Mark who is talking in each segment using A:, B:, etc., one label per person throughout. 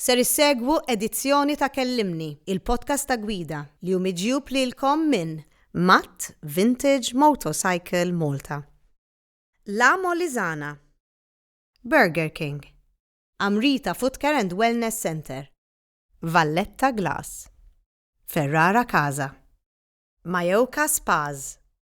A: Ser issegwu edizzjoni ta' Kellimni, il-podcast ta' gwida, li hu miġjub lilkom minn Matt Vintage Motorcycle Malta, La Molisana, Burger King, Amrita Footcare and Wellness Centre, Valletta Glass, Ferrara Casa, Mayoka Spas,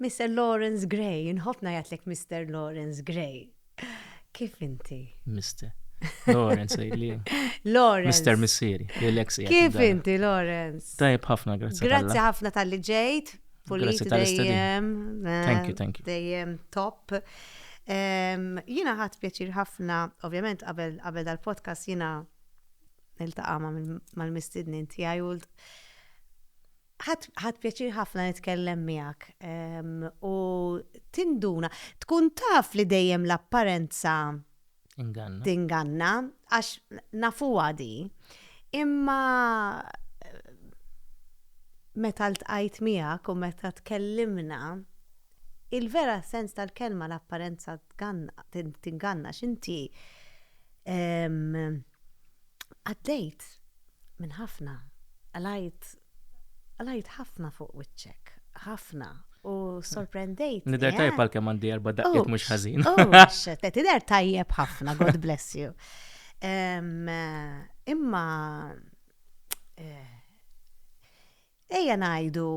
A: Mister Lawrence Gray, nħobb ngħidlek Mister Lawrence Gray. Kif inti? Mister.
B: Lawrence għidli. Lawrence. Mister
A: Missieri,
B: l-ex Kif inti,
A: Lawrence? Tajb ħafna, grazzi.
B: Grazzi ħafna tal-li
A: ġejt. Pulit
B: dejjem. Eh, thank you, thank you. Dejjem top.
A: Jina ħat pjaċir ħafna, ovvjament qabel qabel dal-podcast jina niltaqa' mal-mistidnin tiegħi Ħadt pjaċir ħafna nitkellem miegħek u tinduna, tkun taf li dejjem l-apparenza tinganna għax nafuha di. Imma meta ltqajt miegħek u meta tkellimna, il-vera sens tal-kelma l-apparenza tinganna x'inti Għaddejt minn ħafna, qalajt, qalajt ħafna fuq wiċċek, ħafna, u sorprendejt. Nider tajjeb għal kemm
B: għandi erba' daqqiet mhux ħażin. Tider
A: tajjeb ħafna, God bless you. Imma eh, ejja ngħidu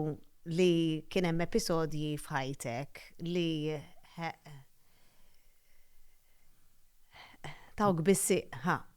A: li kien hemm episodji f'ħajtek li tawk bissi, ha,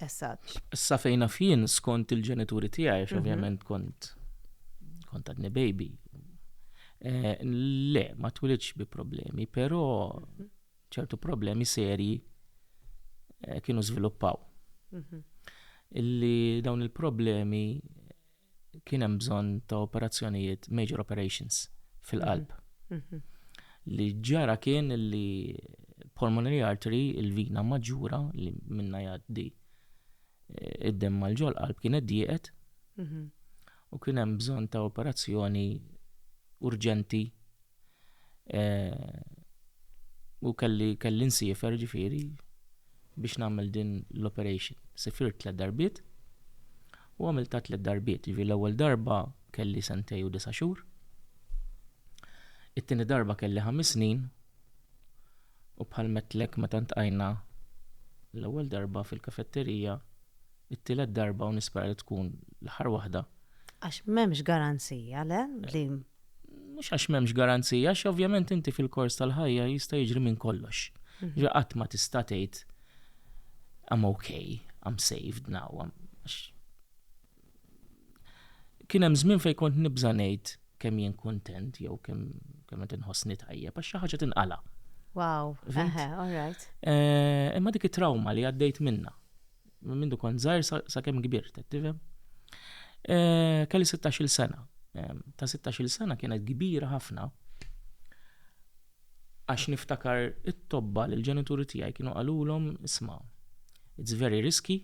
A: As such. Issa fejn naf
B: jien skont il-ġenituri tiegħi għax mhm. ovvjament kont kont għadni baby. Eh, le, ma twilidx bi problemi, però mhm. ċertu problemi serji eh, kienu żviluppaw. Mhm. Illi dawn il-problemi kien hemm bżonn ta' operazzjonijiet, major operations, fil-qalb. Li ġara kien li pulmonary artery, il-vina maġġura li minna jgħaddi eh, id-dem mal-ġol qalb kienet dieqet u kien hemm bżonn ta' operazzjoni urġenti u kelli kelli nsifer ġifiri biex nagħmel din l-operation. Sifirt tliet darbiet u għamil ta' tliet darbiet. Ġifiri l-ewwel darba kelli sentej u disa' xhur. It-tieni darba kelli ħames snin u bħal metlek meta ntqajna l-ewwel darba fil-kafetterija, it-tielet darba u nispera li tkun l-aħħar waħda. Għax m'hemmx
A: garanzija le li mhux
B: għax m'hemmx garanzija, għax ovvjament inti fil-kors tal-ħajja jista' jiġri minn kollox. Mhm. Ġi qatt ma tista' tgħid I'm okay, I'm saved now. Kien hemm żmien fejn kont nibża' ngħid kemm jien kuntent jew kemm kemm qed inħossni tajjeb għax xi ħaġa tinqala'. Wow,
A: all right. Eh, imma dik
B: it-trauma li għaddejt minna. Minn mindu kont żgħir sakemm kbirt, qed tifhem? Eh, kelli 16-il sena. Eh, ta' 16-il sena kienet kbira ħafna għax niftakar it-tobba li l-ġenituri tiegħi kienu qalulhom isma' it's very risky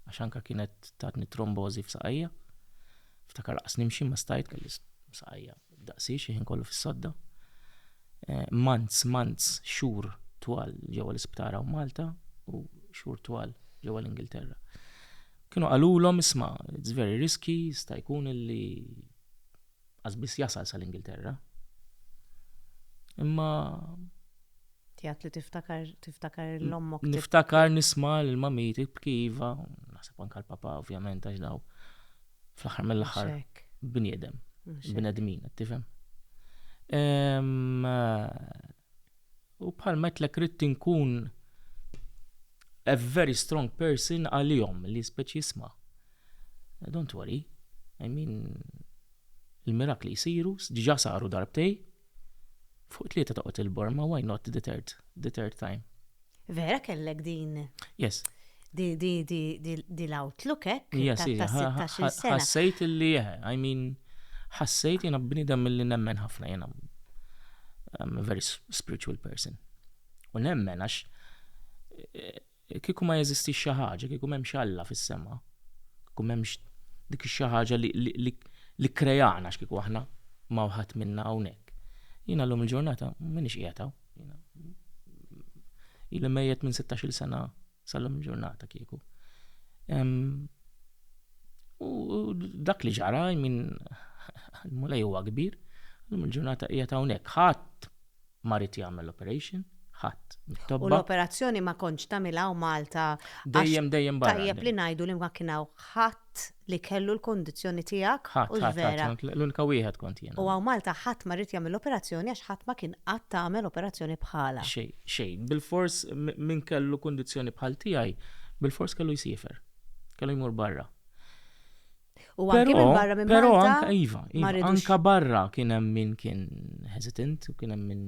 B: għax anka kienet tatni trombożi f'saqajja. Ftakar laqas nimxi ma stajt kelli saqajja Daqsi, xi ħin kollu fis-sodda. Months, months, xhur twal ġewwa l-isptar hawn Malta u xhur twal ġewwa l-Ingilterra. Kienu qalulhom isma' it's very risky, sta jkun illi qasbis jasal sal-Ingilterra. Imma
A: Tijat li tiftakar, tiftakar l-ommok. Niftakar nisma
B: l-mamiti b'kiva, nasib anka l-papa ovvjament għax daw. fl-aħħar mill-aħħar bniedem, bnedmin, qed tifhem. U bħal metlek rrid inkun a very strong person għalihom li speċi jisma. Don't worry, I mean, il-mirakli jisiru, diġa saru darbtej, Fuq tlieta toqgħod il-bor, ma why not the third, the third time. Vera kellek
A: din. Yes.
B: Di, di,
A: di, di, di l-outlook ek. Yes, ta' 16 sena. Ħassejt li, eh,
B: I mean, ħassejt jena bnidem mill-li nemmen ħafna jena. I'm a very spiritual person. U nemmen għax eh, Kieku ma jeżistix xi ħaġa, kieku m'hemmx Alla fis-sema, kieku m'hemmx dik ix-xi ħaġa li kkreana x'kieku aħna ma ħadd minna hawnhekk. Jiena llum il-ġurnata m'iniex qiegħed hawn. Ili mejjet minn 16-il sena sal-lum il-ġurnata kieku. U dak li ġara, min l-mulej huwa kbir, llum il-ġurnata qiegħed hawnhekk. Ħadd ma ried jagħmel l-operation, ħadd mit-tobba. U l-operazzjoni
A: ma kontx tagħmilha hawn Malta. Dejjem dejjem
B: barra. Tajjeb li ngħidu li ma
A: kien hawn ħadd li kellu l-kundizzjoni tiegħek u vera. L-unika wieħed kont
B: jien. U hawn Malta ħadd ma ried
A: jagħmel l-operazzjoni għax ħadd ma kien qatt tagħmel operazzjoni bħalha. Xejn, xejn. Bilfors
B: min kellu kundizzjoni bħal tiegħi, bilfors kellu jsiefer. Kellu jmur barra.
A: U anke minn barra minn barra. Però anka iva,
B: iva anka barra kien hemm min kien hesitant u kien hemm min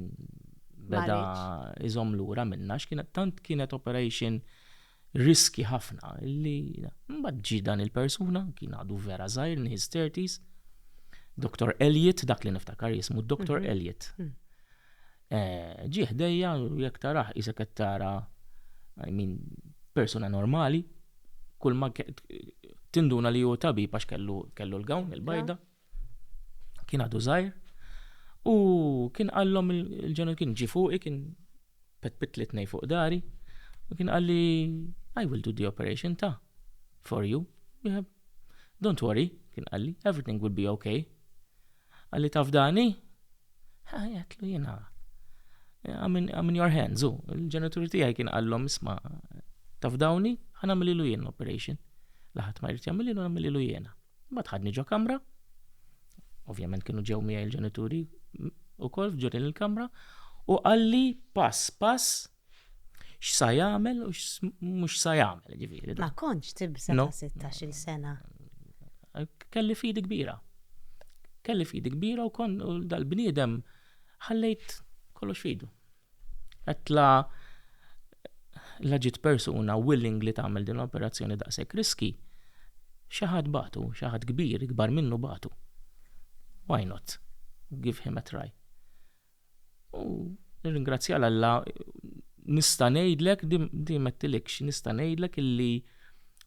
B: beda iżom lura minna x'kienet tant kienet operation riski ħafna li mbagħad ġi dan il-persuna kien għadu vera żgħir in his 30s. Dr. Elliot dak li niftakar jismu Dr. Mhm. Elliot. Mhm. Ġie ħdejja u jekk tarah qisek qed tara I mean persuna normali. Kull ma tinduna li hu tabib għax kellu kellu l-gawn il-bajda. Kien għadu żgħir. U kien qallhom il-ġenel kien ġi fuqi kien petpit li tnej fuq dari. U kien qal li I will do the operation ta' for you. Don't worry, kien qalli, everything will be okay. Qalli, Taf dan hi? Għedtlu jiena, I'm in your hands, u l-ġenitur tiegħi kien qallhom, isma' taf dawni, ħa nagħmililu jien l-operation. Laħat ma jrid jagħmililu nagħmililu jiena. Ma tħadni ġo kamra, ovvjament kienu ġew miegħi l-ġenituri u kol ġurin il-kamra, u qalli pass pass x'sa jagħmel u mhux sa jagħmel, ġifieri. Ma kontx tibża'
A: ta' 16-il sena.
B: Kelli fidi kbira. Kelli fidi kbira u kon dal-bniedem ħallejt kollox fidu. Għetla la ġiet persuna willing li tagħmel din l-operazzjoni daqshekk riski, xi ħadd batu, xi ħadd kbir, ikbar minnu batu. Why not? Give him a try. U nirringrazzja 'l Alla nista' ngħidlek, di mettilikx, nista' ngħidlek illi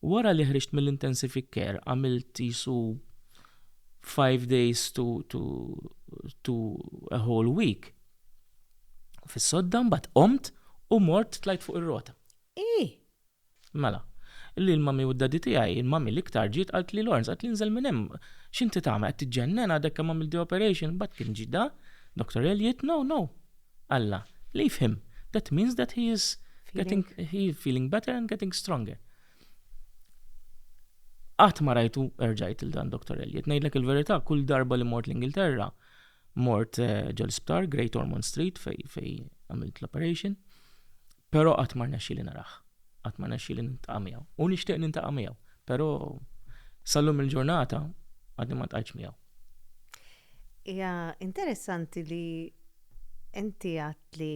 B: wara li ħriġt mill-intensific care għamilt qisu five days to, to, to a whole week fis-sodda mbagħad qomt u mort tlajt fuq ir-rota. Hi! Mela. Illi l-mummy u d-daddy tiegħi, il-mummy l-iktar, ġiet qaltli Lawrence, qaltli inżel minn hemm. X'inti tagħmel, qed tiġġennen, għadek kemm għamilt the operation, imbagħad kien ġie da, Doctor Elliott, no, no. Alla, leave him, that means that he is getting, he is feeling better and getting stronger. Qatt ma rajtu, erġajt lil dan Doctor Elliott. Ngħidlek il-verità, kull darba li mort l-Ingilterra, mort eh, ġol-sptar, Great Ormond Street, fej, fej għamilt l-operation, Però qatt ma rnexxieli narah. Qatt ma rnexxieli niltaqa' miegħu. U nixtieq niltaqa' miegħu, però sal-lum il-ġurnata għadni ma ltqajtx miegħu.
A: Hija interessanti li inti għedt li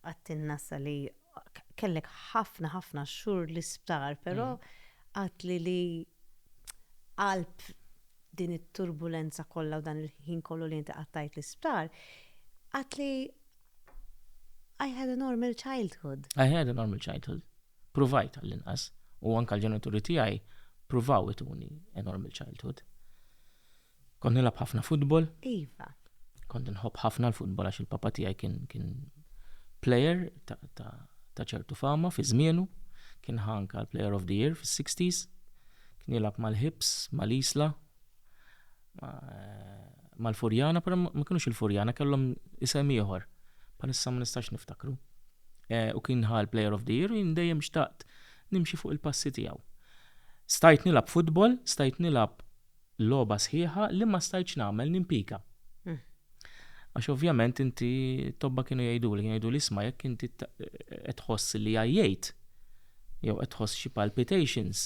A: għedtilna issa li kellek ħafna ħafna xhur l-isptar, però mm. għedtli li qalb din it-turbulenza kollha u dan il-ħin kollu li inti qattajt l-isptar, għedtli I had a normal childhood. I had a normal childhood. Provajt għall-inqas. U anka l-ġenituri tiegħi provaw ituni a normal childhood. Kont nilab ħafna futbol. Iva. Kont nħobb ħafna l-futbol għax il-papa tiegħi kien kien player ta' ċertu fama fi żmienu. Kien ħanka l-player of the year fis-60s. Kien jilab mal-Hips, mal-Isla. mal-Furjana, però ma kinux il-Furjana, kellhom isem ieħor. Palissa ma nistax niftakru. Eh, u kien ħal Player of the Year u dejjem xtaqt nimxi fuq il-passi tiegħu. Stajt nilab futbol, stajt nilab loba sħiħa li ma stajtx nagħmel nimpika. Hmm. Għax ovvjament inti tobba kienu jgħidu li jgħidu li isma' jekk inti qed tħoss li għajjejt jew qed tħoss xi palpitations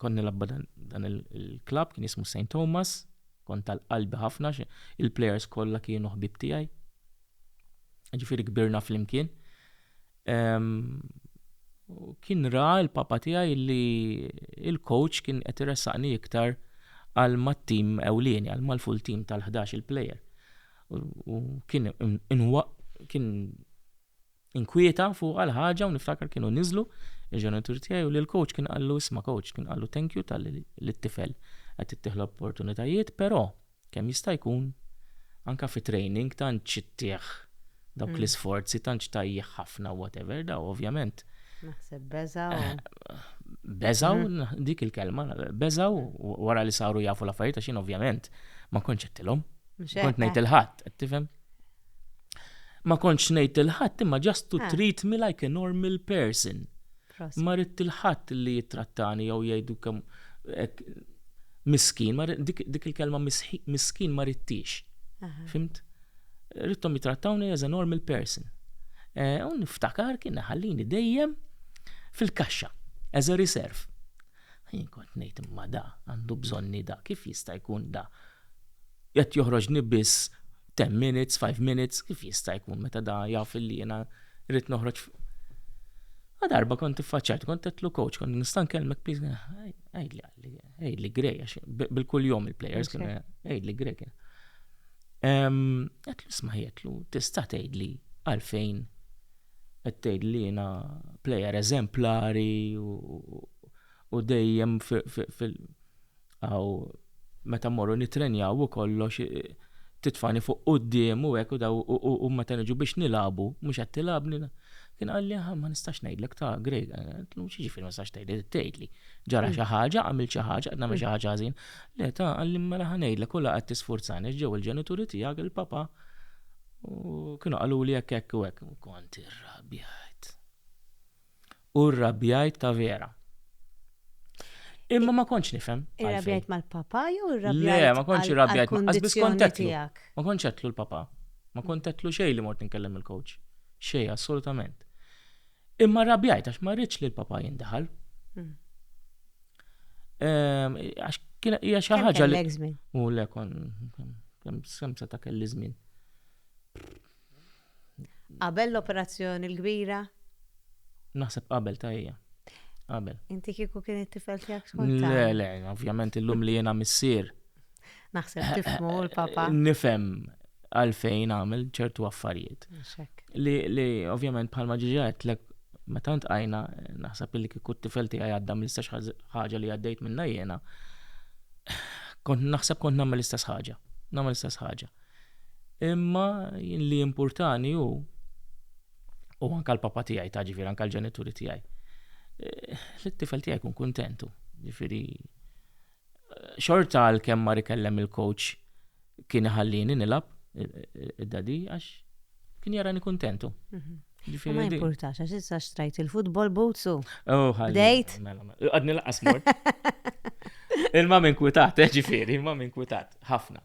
A: Kont nilabba dan il-klabb kien jismu St. Thomas, kont tal-qalbi ħafna, il-plejers kollha kienu ħbib tiegħi. Ġifieri kbirna flimkien. Kien ra l-papa tiegħi li il-coach kien qed iressaqni iktar għal mat-tim ewlieni, għal mal-full team tal-11 il-plejer. U kien kien inkwieta fuqha l-ħaġa u niftakar kienu niżlu il-ġenitur tiegħi u lill-coach kien qallu isma' coach kien qallu thank you talli lit-tifel qed ittih l-opportunitajiet però kemm jista' jkun anke fi training tantx ittih dawk mm. l-isforzi tantx tajjih ħafna whatever daw ovvjament Naħseb beżaw.
C: Eh,
A: beżaw, mm. dik il-kelma, beżaw wara li saru jafu l-affarijiet għaxin ovvjament ma konċettilhom. Kont ngħid il-ħadd, tifhem? Ma kontx ngħid il ħadd imma just to ah. treat me like a normal person. Ma rrid il ħadd li jittrattani jew jgħidu kemm miskin, dik il-kelma miskin ma rittix. Fimt? Rittom jitrattawni as a normal person. Eh, u niftakar kien ħallini dejjem fil-kaxxa, as a reserve. Jien kont ngħid imma da, għandu bżonni da, kif jista' jkun da? Qed joħroġni biss ten minutes, five minutes, kif jista' jkun meta da jaf li jiena rrid noħroġ Ma darba kont tiffaċċajt, kont tetlu coach, kont nista' nkellmek please, għidli għalli, għidli grej, bil-kull jom il-players kien għidli grej kien. Għetlu sma jgħetlu, tista' tgħidli għalfejn qed tgħidli jiena player eżemplari u dejjem fil- Aw meta mmorru nittrenjaw u kollox titfani fuq quddiem u hekk u daw u meta niġu biex nilagħbu mhux qed tilgħabni. Kien qalli aħ ma nistax ngħidlek ta' Greg. Għedtlu x'jiġifieri ma tistax tgħidli trid tgħidli. Ġara xi ħaġa, għamilt xi ħaġa, qed nagħmel xi ħaġa ħażin. Le ta' qalli mela ħa ngħidlek u la qed tisfurzani għax ġew il-ġenituri tiegħek, il-papa u kienu qaluli hekk hekk u hekk. Kont irrabjajt. U rrabjajt ta' vera. Imma ma kontx nifhem. Irrabjajt mal-papa
C: jew irrabjajt? Le, ma kontx irrabjajt
A: mal-qasbis kontetlu. Ma kontx għetlu l-papa. Ma kontetlu xejn li mort nkellem il-coach. Xejn, assolutament. Imma rrabjajt għax ma rridx li l-papa jindaħal. Hmm. Ehm, għax kienet hija xi ħaġa li. U le kon kemm semsa ta' kelli żmien.
C: Qabel l-operazzjoni l-kbira?
A: Naħseb qabel ta' hija. Qabel. Inti kieku kien
C: it-tifel tiegħek tkun taf. Le, le, ovvjament
A: illum li jiena missier. Naħseb
C: tifmu l-papa. Nifhem
A: għalfejn għamel ċertu affarijiet. Li, li ovvjament bħalma ġiġet lek meta ntqajna naħseb li kieku t-tifel tiegħi għadda mill-istess ħaġa li għaddejt minna jiena. Kont naħseb kont nagħmel l-istess ħaġa. Nagħmel l-istess ħaġa. Imma li jimpurtani hu, u anka l-papa tiegħi ta' ġifieri anka l-ġenituri tiegħi, eh, li t-tifel tiegħi jkun kuntentu. Ġifieri eh, xorta għal kemm mar ikellem il-coach kien iħallini nilab id-dadi għax kien jarani kuntentu. Mhm. Ġifieri ma
C: importax, għax issa xtrajt il-futbol boots u. Oh, Bdejt.
A: Mela, mela. Għadni laqas mort. Il-ma minn kwitat, eh, ġifieri, il-ma minn kwitat, ħafna.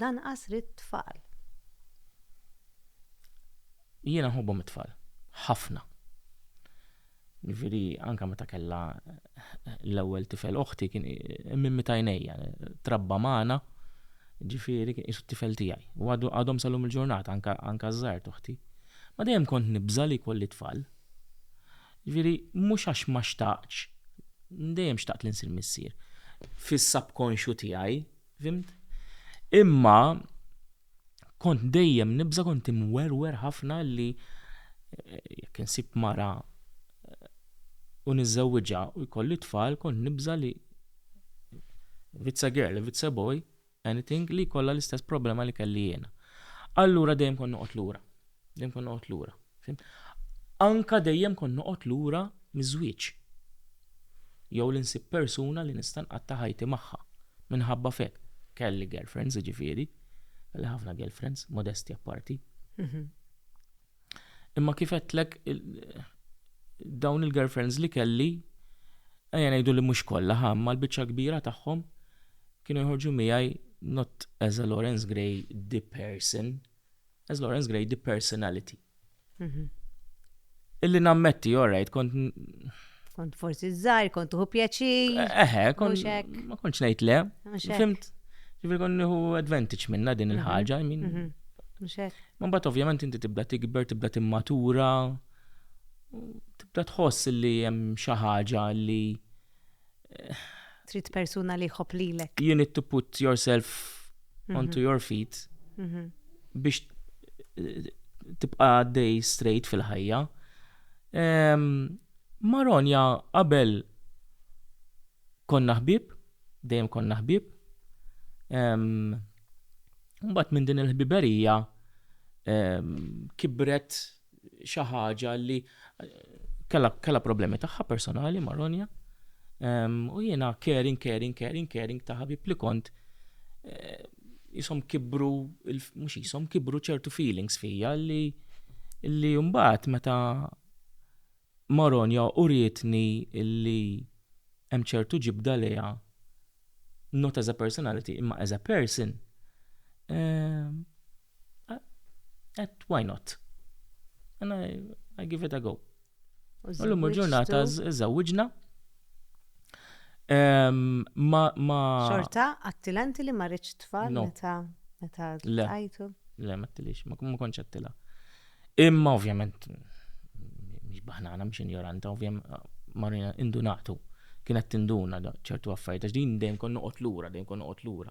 C: Lanqas ridt tfal.
A: Jiena nħobbhom it-tfal. Ħafna. Jiġifieri anke meta kellha l-ewwel tifel oħti kien minn meta għinejja. Trabba magħna, jiġifieri kien qisu t-tifel tiegħi. U għadhom sal-lum il-ġurnata anke ż-żgħar t'oħti. Ma dejjem kont nibża' li jkolli tfal. Jiġifieri mhux għax ma xtaqtx, dejjem xtaqt li nsir missier, fis-subconscious tiegħi, fhimt? Imma kont dejjem nibża' kont imwerwer ħafna li jekk insib mara u niżżewwiġha u jkolli t-tfal kont nibża' li if it's a girl, if it's a boy, anything, li jkollha l-istess problema li kelli jiena. Allura dejjem kont noqgħod lura. Dejjem kont noqgħod lura. Fim? Anka dejjem kont noqgħod lura miż-żwieġ. Jew li nsib persuna li nista' nqatta' ħajti magħha. Minħabba f'hekk kelli girlfriends, jiġifieri, kelli ħafna girlfriends, modestja apparti. Mhm. Imma kif għedtlek dawn il-girlfriends li kelli ejja ngħidu li mhux kollha ħa imma l-biċċa kbira tagħhom kienu jħorġu miegħi not as a Lawrence Gray the person, as Lawrence Gray the personality. Mhm. Illi nammetti, all right, kont Kont
C: forsi żgħir, kont tuħu pjaċir. Eħe,
A: ma kontx ngħid le. Fimt, ġifieri kont nieħu advantage minna din mhm. il-ħaġa, I mean. Mhm. Ma mbagħad ovvjament inti tibda tikber, tibda timmatura, tibda tħoss li hemm xi ħaġa li eh,
C: trid persuna li jħobb lilek. You need to put
A: yourself mhm. onto your feet mhm. biex eh, tibqa' day straight fil-ħajja. Ehm, ma' Ronja qabel konna ħbieb, dejjem konna ħbieb. Ehm, mbagħad minn din il-ħbiberija ehm, kibret xi ħaġa li kellha problemi tagħha personali ma' Ronja. Ehm, u jiena caring, caring, caring, caring ta' ħabib li kont eh, jisom kibru, mux jisom kibru ċertu feelings fija li li jumbat meta Maronja u rietni li hemm ċertu ġibda leja not as a personality imma as a person at why not and I, I give it a go U l-lum il-ġurnata żewġna.
C: Ma. Xorta, għattilanti li marriċ tfal meta meta għajtu? Le, ma tilix,
A: ma konċ għattila. Imma ovvjament, miex baħnana, miex ignoranta, ovvjament, marina indunatu. Kienet tinduna ċertu affarijiet, għax din dejjem kon noqgħod lura, dejjem kon noqgħod lura.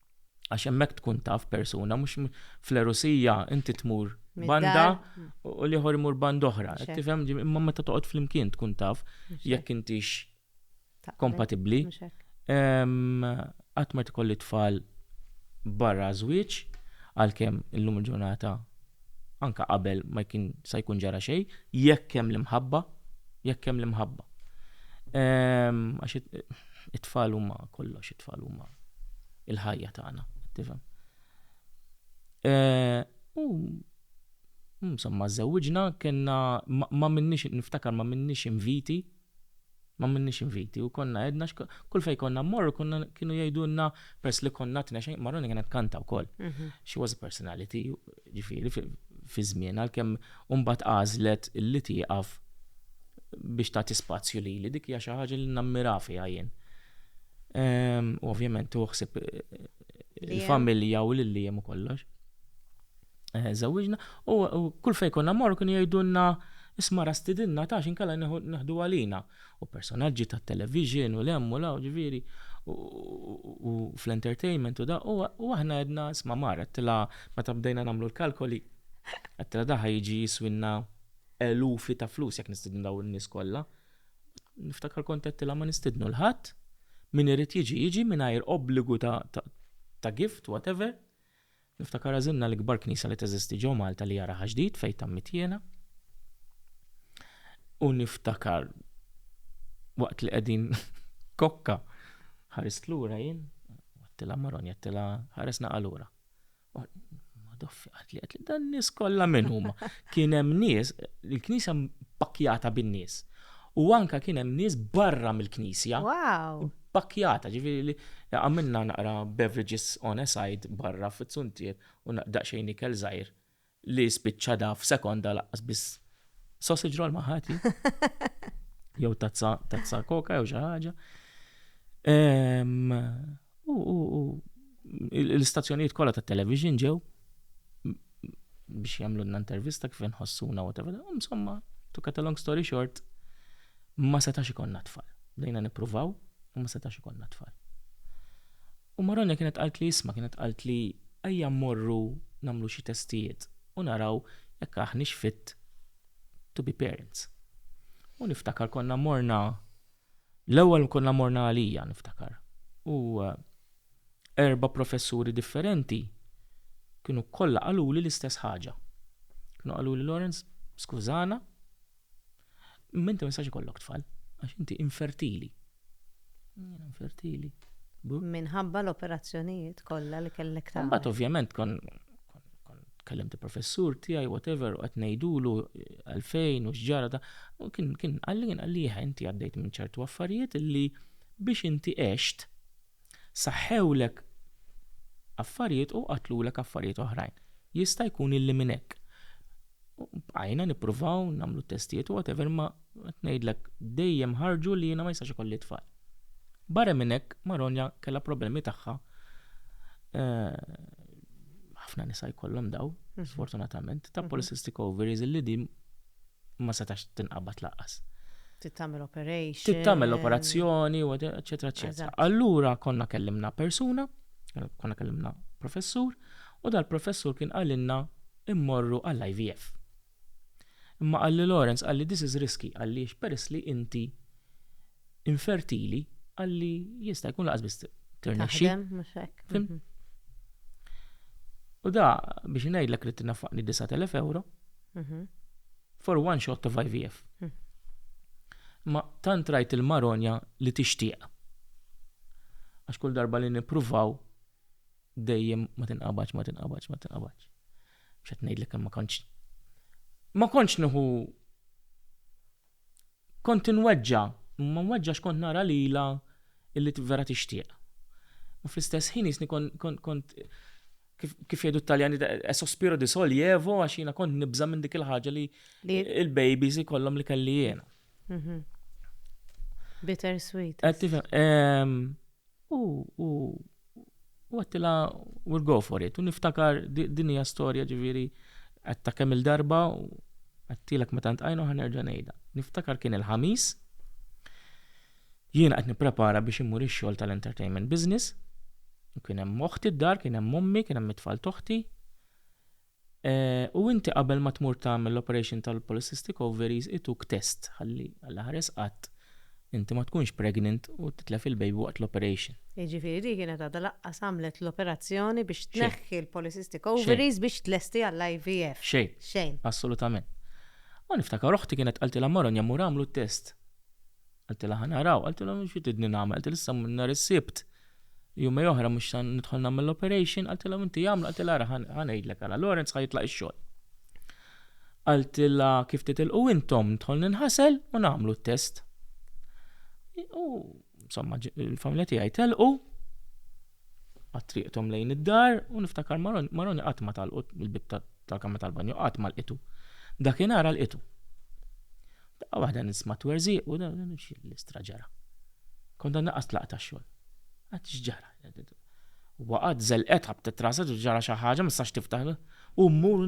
A: għax hemmhekk tkun taf persuna mhux fl-erusija inti tmur banda u l-ieħor imur band oħra. Tifhem imma meta toqgħod flimkien tkun taf jekk intix kompatibbli. Qatt ma tkolli tfal barra żwieġ għalkemm illum il-ġurnata anke qabel ma jkun sa jkun ġara xejn, jekk hemm l-imħabba, jekk hemm l-imħabba. Ehm, għax it-tfal huma kollox, it-tfal huma il-ħajja tagħna, tifhem. Eh, u insomma żewġna kellna ma minnix niftakar ma minnix inviti M'għamilniex inviti u konna għedna kull fejn konna mmorru konna kienu jgħidulna peress li konna tnexx Maroni kienet tkanta wkoll. She was a personality, ġifieri fi żmien għalkemm mbagħad għażlet li tieqaf biex tagħti spazju lili dik hija xi ħaġa li nammira fiha jien. U ovvjament tieħu ħsieb il-familja u l-iliem u kollox. żewwiġna u kull fejn konna mmorru kienu jgħidulna isma' ra stidinna ta' x'inkella neħdu għalina. U personaġġi tat-television u 'l hemm u 'l hawn ġifieri u fl-entertainment u da' u aħna għedna isma' mar għedtilha meta bdejna nagħmlu l-kalkoli għedtilha da' ħa jiġi jiswilna elufi ta' flus jekk nistidnu dawn in-nies kollha. Niftakar kont għedtilha ma nistidnu 'l ħadd, min irid jiġi jiġi mingħajr obbligu ta' gift whatever. Niftakar għażilna l-ikbar knisja li teżisti ġo Malta li hija Raħa Ġdid fejn tammit jiena. U niftakar waqt li qegħdin kokka ħarist lura jien, għattila maron, għattila ħaresna għalura. Madoffi, għatli, għatli, dan nis kolla minn huma. Kien hemm nies, il-knisja pakjata bin-nies. U anka kien hemm nies barra mill-knisja. Wow!
C: Pakkjata, ġifieri
A: li għamilna naqra beverages on a side barra fiz-zuntier u daqsxejn ikel żgħir li spiċċa da f'sekonda laqqas biss sausage roll ma ħadt jien. Jew tazza tazza koka jew xi ħaġa. Ehm, U l-istazzjonijiet kollha tat-television ġew biex jagħmlulna intervista kif inħossuna whatever. Insomma, to cut a long story short, ma setax ikonna tfal. Bdejna nippruvaw, u ma setax ikonna tfal. U Maronja kienet qalt li isma' kienet qalt li ejja mmorru nagħmlu xi testijiet u naraw jekk aħniex fit to be parents. U niftakar konna morna L-ewwel konna morna għalija, niftakar, u erba' professuri differenti kienu kollha qaluli l-istess ħaġa. Kienu qaluli Lawrence, skużana, imma inti ma jistax ikollok tfal għax inti infertili. Infertili.
C: Minħabba l-operazzjonijiet kollha li kellek tagħmel. Imbagħad ovvjament kon
A: kellimt il-professur tiegħi whatever u qed ngħidulu għalfejn u x'ġara da. U kien kien qalli kien qalli jieħ inti għaddejt minn ċertu affarijiet li biex inti għext saħħewlek affarijiet u qatlulek affarijiet oħrajn. Jista' jkun illi minn hekk. Bqajna nippruvaw nagħmlu testijiet u whatever ma qed ngħidlek dejjem ħarġu li jiena ma jistax ikolli tfal. Barra minn hekk Maronja kellha problemi tagħha eh, ħafna nisa jkollhom daw, mhm. sfortunatament, ta' mhm. polycystic ovaries li di ma setax tinqabad laqas. Tittamel
C: operation. Tittamel operazzjoni,
A: eccetera, eccetera. Allura konna kellimna persuna, konna kellimna professur, u dal-professur kien għalinna immorru għall-IVF. Imma qalli Lawrence, qalli this is risky għaliex peress li inti infertili qalli jista' jkun laqas biss tirnexxi. Mhm. U da biex ngħidlek li tinafaqni 9000 euro mhm. for one shot of IVF. Mhm. Ma tant rajt il-maronja li tixtieq. Għax kull darba li nippruvaw dejjem ma tinqabadx, ma tinqabadx, ma tinqabadx. Mhux qed ngħidlek kemm ma kontx ma kontx nieħu kont inweġġa, ma nweġġax kont nara lilha illi vera tixtieq. U fl-istess ħin jisni kont kif jgħidu t-Taljani e sospiro di sol jevo għax jiena kont nibża minn dik il-ħaġa li il-babies ikollhom li kelli jiena. Mhm.
C: Bitter sweet. Qed tifhem. ehm, U,
A: u, u għattila, we'll go for it. U niftakar di- din hija storja ġifieri qed ta' kemm il-darba u għattilek meta ntqajna u ħanerġa' ngħidha. Niftakar kien il-ħamis, jiena qed nipprepara biex immur ix-xogħol tal-entertainment business, u kien hemm oħti d-dar, kien hemm ommi, kien hemm it-tfal toħti. U inti qabel ma tmur tagħmel l-operation tal-polycystic ovaries ituk test ħalli allaħares qatt inti ma tkunx pregnant u titlef il-baby waqt l-operation. Jiġifieri din kienet
C: għadha laqqas għamlet l-operazzjoni biex tneħħi l-polycystic ovaries biex tlesti għall-IVF. Xejn. Xejn. Assolutament.
A: U niftakar oħti kienet qaltilha mara nja mmur agħmlu t-test. Qaltilha ħa naraw, qaltilha mhux xi tridni nagħmel, qaltilha issa nhar is-Sibt, jumej oħra mhux se nidħol nagħmel l-operation, qaltilha inti jagħmlu, qaltilha ara ħa ngħidlek ara, Lawrence ħa jitlaq ix-xogħol. Qaltilha kif titilqu intom nidħol ninħasel u nagħmlu t-test. U insomma il-familja tiegħi telqu Qatt triqthom lejn id-dar u niftakar Maroni qatt ma talqu il-bitta tal-kamra tal-banju qatt ma lqitu. Dakinhar lqitu. Daqqa waħda nisma' twerżiq u dan l-istra ġara. Kont għandna qas tlaqta xogħol. Qatt x'ġara. Waqgħet żelqet ħabtet raset u ġara xi ħaġa ma sax tiftaħ. U mmur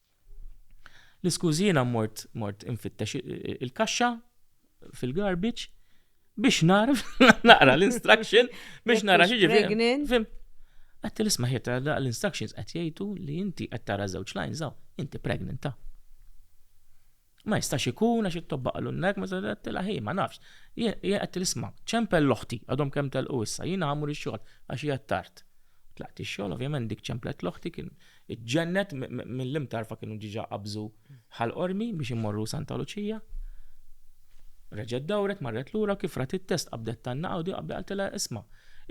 A: L-iskużi jiena mort mort infittex il-kaxxa fil-garbage biex narf naqra l-instruction biex nara xi ġifieri. Għatti l-isma ħiet l-instructions qed jgħidu li inti qed tara żewġ lines hawn, inti pregnant ta'. Ma jistax ikun għax it-tobba qalu n-nek, ma tilha hi, ma nafx. Jien qed nisma' ċempel l-oħti, għadhom kemm telqu issa, jiena ħammur ix-xogħol għax qiegħed tard. Tlaqt ix-xogħol, ovvjament dik ċemplet l-oħti kien iġġennet mill-imtarfa kienu ġiġa qabżu ħal qormi biex immorru Santa Luċija. Reġgħet dawret marret lura kif rat it-test qabdet tanna għawdi qabda qaltilha isma'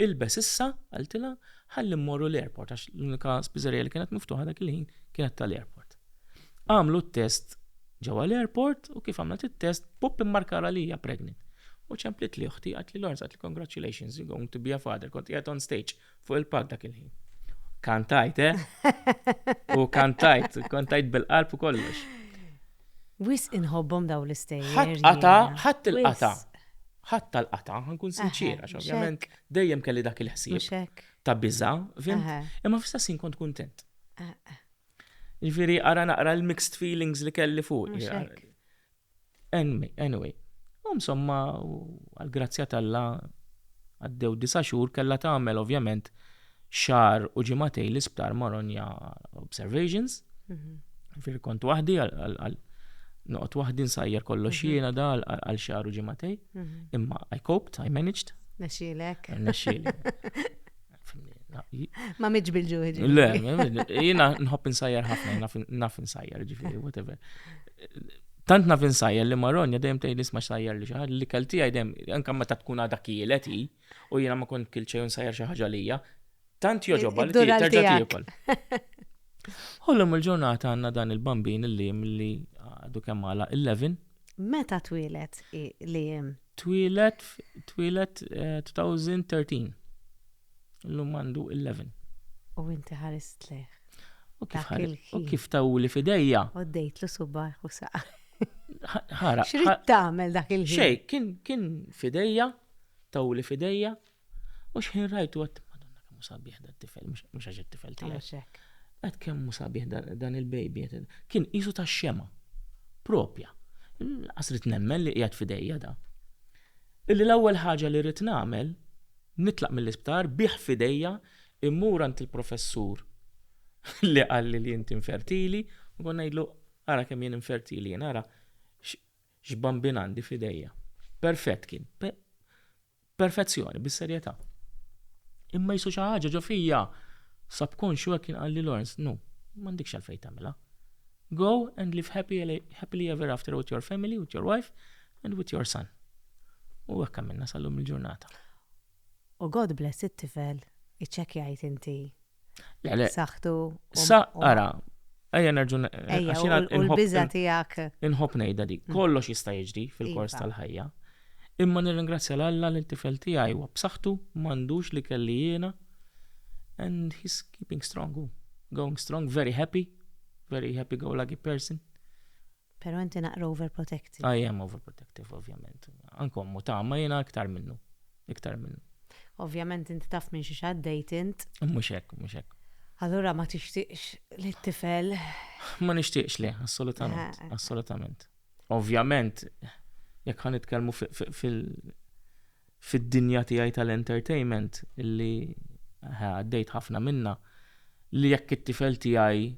A: ilbes issa qaltilha ħalli mmorru l-airport għax l-unika spiżerija li kienet miftuħa dak il-ħin kienet tal-airport. Għamlu t-test ġewwa l-airport u kif għamlet it-test pupp immarkala li hija pregnant. U ċemplit li uħti qatt li Lawrence qatt li congratulations you're going to be a father kont qiegħed on stage fuq il-palk dak il-ħin. Kantajt, eh? U kantajt, kantajt bil-qalb u kollox. Wis
C: inħobbhom daw l-istejjer. Ħadd qata, ħadd
A: il-qata. Ħadd tal-qata, ħankun sinċiera, ovvjament dejjem kelli dak il-ħsieb ta' biża, fim, imma fl-istess kont kuntent. Ġifieri ara naqra l-mixed feelings li kelli fuq. Anyway, insomma, għal-grazzja tal-la għaddew disa xhur kellha tagħmel ovvjament xar u ġimatej l-isptar maronja observations. Mhm. Fir kont waħdi għal noqgħod waħdi nsajjar kollox mhm. jiena dal għal xar u ġimatej. Mhm. Imma I coped, I managed. Nexxielek.
C: Nexxielek. Ma miġ bil-ġuħi. Le,
A: jina nħob insajjar ħafna, naf insajjar ġifiri, whatever. Tant naf insajjar li marronja dejjem tgħid nisma' sajjar li xaħġa li kelti għajdem, anke meta tkun għadha kielet hi, u jiena ma kont kilt xejn sajjar xi ħaġa lija, tant joġobha li terġa' tiekol. Ħollhom il-ġurnata għandna dan il-bambin il-lim li għadu kemm għala 11. Meta
C: twilet li jem? Twieled
A: twieled 2013. Illum għandu 11. U inti
C: ħarist lejh. U kif Dak ħar- il-ħin.
A: u kif tawli f'idejja. U ddejtlu subaħ
C: u saqa. Ħara.
A: X'rid tagħmel
C: dak il-ħin? Xej, kien kien
A: f'idejja, tawli f'idejja, U xħin rajtu għat, madonna kemmu sabiħ da tifel, mux għax tifel tijak. Għat kemmu sabiħ dan il-baby, kien isu ta' xema, propja. Għasrit nemmen li jgħat fidejja da. Illi l-ewwel ħaġa li rrit namel, nitlaq mill-isptar, biħ fidejja, immur għant il-professur li għalli li jinti infertili, u għon najdlu, għara kemm jien infertili, għara x'bambin għandi fidejja. Perfett kien. perfezzjoni, bis-serjetà. Imma jisu xi ħaġa ġo fija subconscious hekk kien qalli Lawrence, no, m'għandikx għalfejn tagħmilha. Go and live happy, happily ever after with your family, with your wife and with your son. U hekk għamilna sal-lum il-ġurnata. U
C: God bless it-tifel, iċċekkjajt inti. Saħtu. Sa,
A: ara, Ejja nerġu għaxina il-biza
C: tijak. Inħob nejda dik,
A: mm. kollox jista' jiġri fil-kors iva. tal-ħajja. Imma nirringrazzja l-Alla li t-tifel tiegħi huwa b'saħħtu m'għandux li kelli jiena and he's keeping strong, going strong, very happy, very happy go lucky person. Pero
C: inti naqra overprotective. I am overprotective,
A: ovvjament. Anke ommu tama jiena iktar minnu. Iktar minnu. Ovvjament
C: inti taf minn xi xaddejt int. Mhux hekk, mhux hekk.
A: Allura ma
C: tixtieqx li t-tifel. Ma nixtieqx
A: le, assolutament, assolutament. Ovvjament, jekk ħan nitkellmu fil- fid-dinja tiegħi tal-entertainment li għaddejt ħafna minnha li jekk it-tifel tiegħi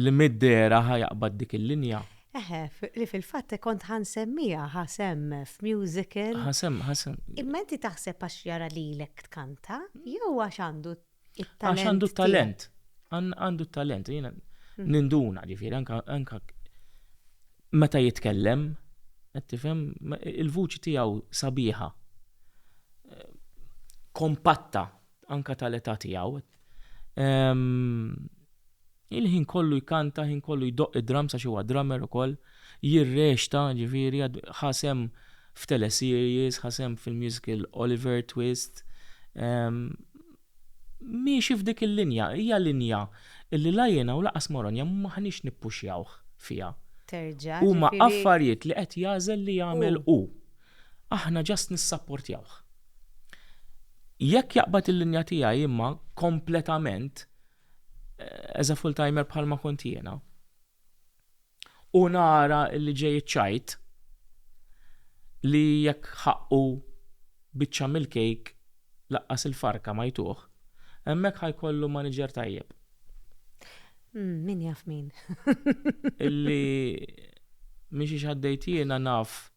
A: li mid-dehra ħa jaqbad dik il-linja. Eħe, li
C: fil-fatt kont ħa nsemmiha ħa semm f'musical. Ħa semm, ħa semm.
A: Imma inti
C: taħseb għax jara lilek tkanta jew għax għandu Għax għandu t-talent.
A: Għandu t-talent. Jena hmm. ninduna ġifiri, anka meta jitkellem, tifhem il-vuċi tiegħu sabiħa. Kompatta anka tal-età tiegħu. Ehm, Il-ħin kollu jkanta, ħin kollu jdoqq id-drums għax huwa drummer ukoll, jirreċta, ġifieri, ħa sehem f'teleseries, ħa sehem fil-musical Oliver Twist. Miexi f'dik il-linja, hija linja li la jiena u lanqas Moronja m'aħniex nippuxjawh fiha. Terġa'. Huma
C: affarijiet
A: li qed jagħżel li jagħmel hu. Aħna ġast nissapportjawh. Jekk jaqbad il-linja tiegħi imma kompletament, as a full timer bħalma kont jiena u nara li ġej iċ-ċajt li jekk ħaqqu biċċa mill-kejk laqqas il-farka ma jtuh, hemmhekk ħa jkollu maniġer tajjeb. Hmm,
C: min jaf min. Illi
A: mhix għaddejt jiena naf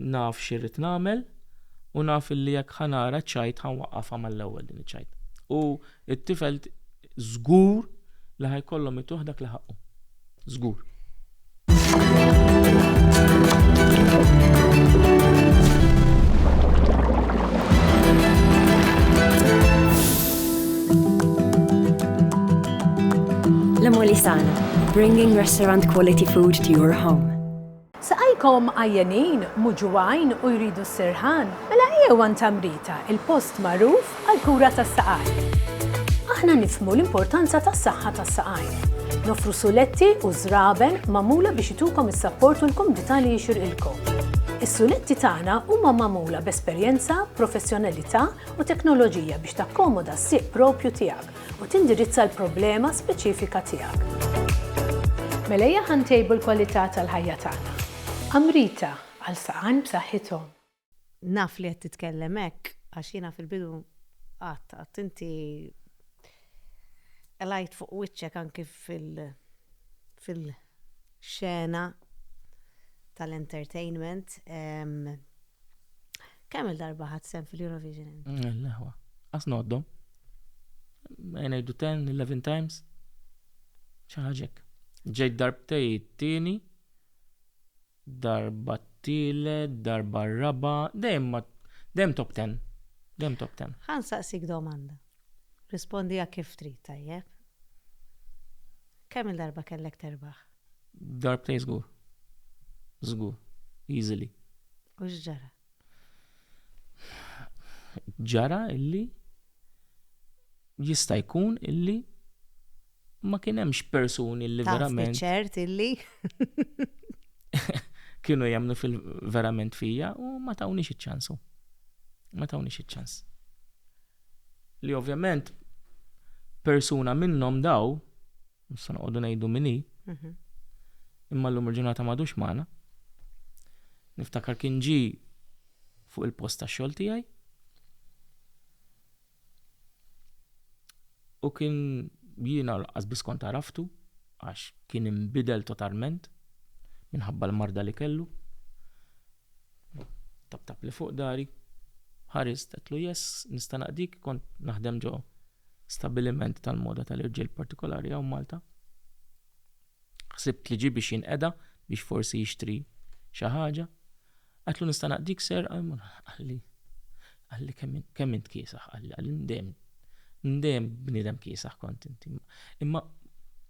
A: Naf x'irrid nagħmel u naf illi jekk ħa nara ċ-ċajt ħa nwaqqafha mal-ewwel din iċ-ċajt. U t-tifel żgur li ħa jkollhom ituh dak li ħaqqu. Żgur.
D: L-Emolisana, bringing restaurant quality food to your home. Saqajkom
E: għajjenin, muġugħin u jridu s-sirħan? Mela ejjew għand Tamrita, il-post magħruf għall-kura tas-saqajn. Aħna nifhmu l-importanza tas-saħħa tas-saqajn. Noffru suletti u żraben magħmula biex itukom is-sapport u l-kumdità li jixirqilkom. Is-suletti tagħna huma magħmula b'esperjenza, professjonalità u teknoloġija biex takkomoda s-sieq proprju tiegħek. u tindirizza l-problema speċifika tiegħek. Mela ejja ħa ntejbu l-kwalità tal-ħajja tagħna. Amrita, għal saqajn b'saħħithom. Naf
C: li qed titkellem hekk għax jiena fil-bidu qatt qatt inti lajt fuq wiċċek anki fil- fil-xena tal-entertainment. Kemm il-darba ħadd sem fil-Eurovision? L-ħwa.
A: Għas noddom. Għajnajdu 10, 11 times. ċaħġek. Ġej darbtej t-tieni, darba t-tile, darba r-raba, dejjem ma dejjem top 10. Dejjem top 10. Ħan saqsik domanda.
C: Rispondi għak kif trid tajjeb. Kemm il-darba kellek terbaħ? Darbtejn
A: żgur. Żgur. Easily. U
C: x'ġara?
A: Ġara illi jista' jkun illi ma kien hemmx persuni li verament. ċert illi. kienu jemnu fil-verament fija u ma tawni iċ-ċansu. Ma tawni iċ-ċans. Li ovvjament persuna minnhom daw Nista' noqogħdu ngħidu min hi. Imma llum il-ġurnata m'għadux magħna. Niftakar kien ġie fuq il-post tax-xogħol tiegħi u kien jiena laqqas biss kont għaraftu għax kien inbidel totalment minħabba l-marda li kellu. Taptap li fuq dari. Ħarist, għedtlu yes, nista' naqdik, kont naħdem ġo stabiliment tal-moda tal-irġiel partikolari hawn Malta. Ħsibt li ġie biex jinqeda biex forsi jixtri xi ħaġa. Għedtlu nista' naqdik ser, qalli, qalli kemm int kiesaħ, qalli, qalli ndem, ndem bniedem kiesaħ kont inti. Imma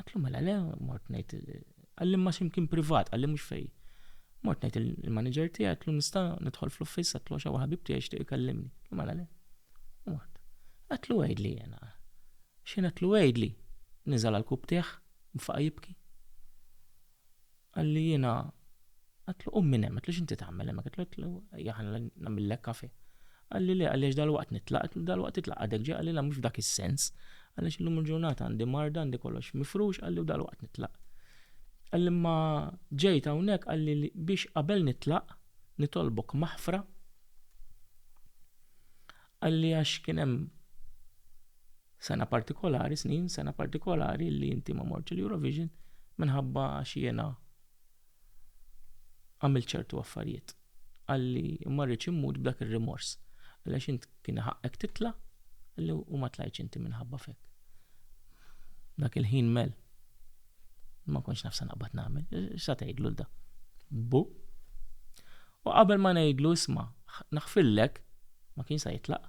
A: Għatlu mela le, mort ngħid għallim ma ximkien privat, għallim mhux fej. Mort ngħid il-manager tiegħi għatlu nista' nidħol fl-uffiss għatlu għax ħabib tiegħi jixtieq ikellimni. Għatlu mela le. Mort. Għatlu għidli jena. Xejn għatlu għidli. Niżal għal kub tiegħ, mfaqa' jibki. Qalli jiena għatlu qum minn hemm, għatlu x'inti tagħmel hemmhekk, għatlu ejja ħanna nagħmillek kafe. Qalli le għaliex dalwaqt nitlaq, għatlu dalwaqt titlaq għadek ġej, qalli la mhux f'dak is-sens, għaliex illum il-ġurnata għandi marda, għandi kollox mifrux, qalli u dalwaqt nitlaq. Qalli imma ġejt hawnhekk qalli biex qabel nitlaq nitolbok maħfra, qalli għax kien hemm, Sena partikolari, snin, sena partikolari li inti ma mortx l-Eurovision minħabba għax jiena għamilt ċertu affarijiet. Għalli ma rridx immut b'dak ir-rimors. Għaliex int kien ħaqqek titla' għalli u ma tlajtx inti minħabba fek. Dak il-ħin mel. Ma konx nafsa naqbad nagħmel. X'sa tgħidlu l-da? Bu? U qabel ma ngħidlu isma' naħfillek ma kien sa jitlaq.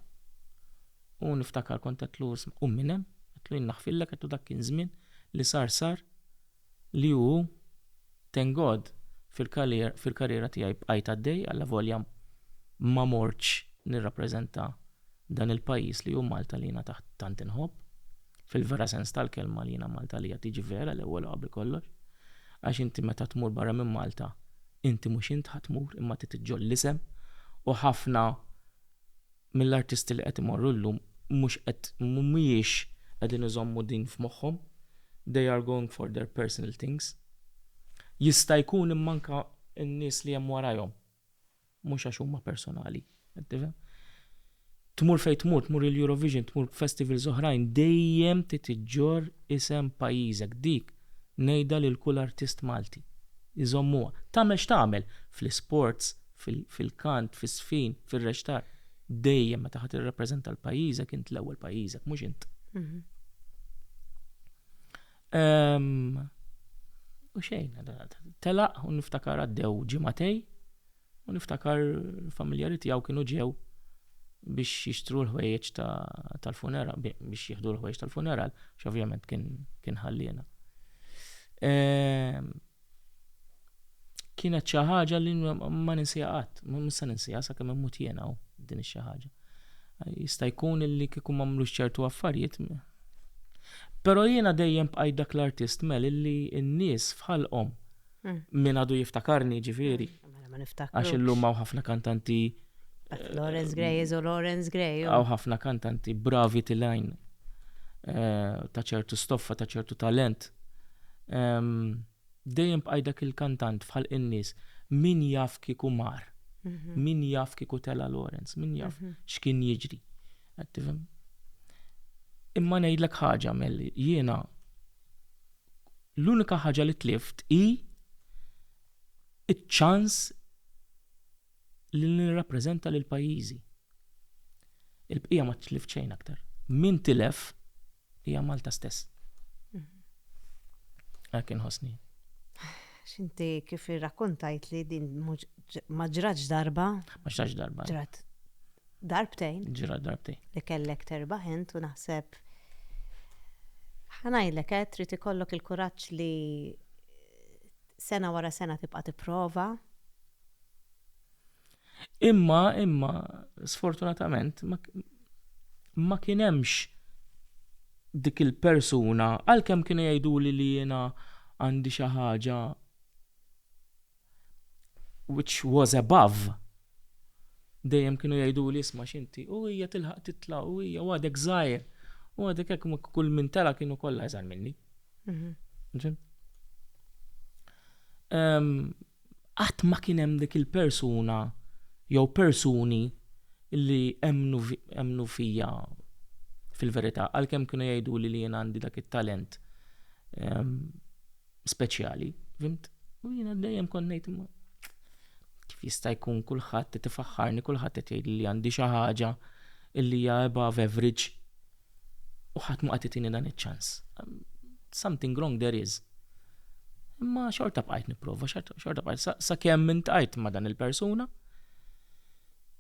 A: U niftakar kont għedtlu isma' qum minn hemm, għedtlu jien naħfirlek, għedtlu dak kien żmien, li sar sar, li hu hu, thank God fil-karriera tiegħi bqajt għaddej allavolja ma mortx nirrappreżenta dan il-pajjiż li hu Malta li jiena tant inħobb, fil-vera sens tal-kelma li jiena Malta għalija tiġi vera l-ewwel u qabel kollox, għax inti meta tmur barra minn Malta inti mhux int ħa tmur imma trid iġġoll l-isem u ħafna mill-artisti li qed imorru llum mhux qed mhumiex qegħdin iżommu din f'moħħhom, they are going for their personal things. Jista' jkun imma anke n-nies li hemm warajhom mhux għax huma personali, qed tifhem? Tmur fejn tmur, tmur il-Eurovision, tmur festivals oħrajn dejjem trid iġġorr isem pajjiżek, dik ngħidha lil kull artist Malti, iżommuha, tagħmel x'tagħmel fl-isports, fil-kant, fis-sfin, fir-rextar, dejjem meta ħadd irrappreżenta l-pajjiżek int l-ewwel pajjiżek, mhux int. Mhm. Ehm, u xejn, telaq u niftakar għaddew ġimatej u niftakar familjari tiegħu kienu ġew biex jixtru l-ħwejjeġ tal-funeral, biex jieħdu l-ħwejjeġ tal-funeral, x'ovvjament kien ħallina. Ehm, kienet xi ħaġa li ma ninsiha qatt, mhux se ninsiha sakemm immut jiena u din xi ħaġa. Jista' jkun li kieku ma mlux ċertu affarijiet. Però jiena dejjem bqajt dak l-artist mel illi n-nies fħalqhom mm. min għadu jiftakarni ġifieri. Mm. Mela ma niftakar. Għax illum hawn ħafna kantanti. Lawrence
C: Gray iżu Lawrence Gray. Hawn ħafna kantanti
A: bravi tilajn eh, ta' ċertu stoffa, ta' ċertu talent. Dejjem bqajdak il-kantant fħal in-nies min jaf kieku mar, mhm. min jaf kieku tela Lawrence, min jaf mhm. x'kien jiġri. Imma ngħidlek ħaġa melli jiena l-unika ħaġa li tlift hi iċ-ċans li nirrappreżenta lil pajjiżi. Il-bqija ma tlift xejn aktar. Min tilef hija Malta stess. Hekk inħossni.
C: X'inti kif irrakkontajt li din ma ġratx darba? Ma ġratx darba.
A: Ġrat
C: darbtejn. Ġrat darbtejn.
A: Li kellek terba'
C: int u naħseb ħanajlek qed eh, trid ikollok il-kuraġġ li Sena wara sena tibqa' tipprova.
A: Imma, imma, sfortunatament, ma, ma kien hemmx dik il-persuna, għalkemm kienu jgħiduli li jiena għandi xi ħaġa which was above. Dejjem kienu jgħiduli isma' x'inti, u hija tilħaq titla' u hija għadek żgħir. U għadek hekk kull min tela' kienu kollha iżgħar minni. Mhm. Ehm, qatt ma kien hemm dik il-persuna jew persuni li emnu fija fil-verità, għalkemm kienu jgħidu li li jien għandi dak it-talent ehm, speċjali, fimt? U jiena dejjem konnejt ma kif jista' jkun kulħadd tifaħħarni, kulħadd qed jgħid li għandi xi ħaġa illi hija above average u ħadd mhu qed itini dan iċ-ċans. Something wrong there is. Imma xorta bqajt nipprova, xorta bqajt sakemm minn tajt ma' dan il-persuna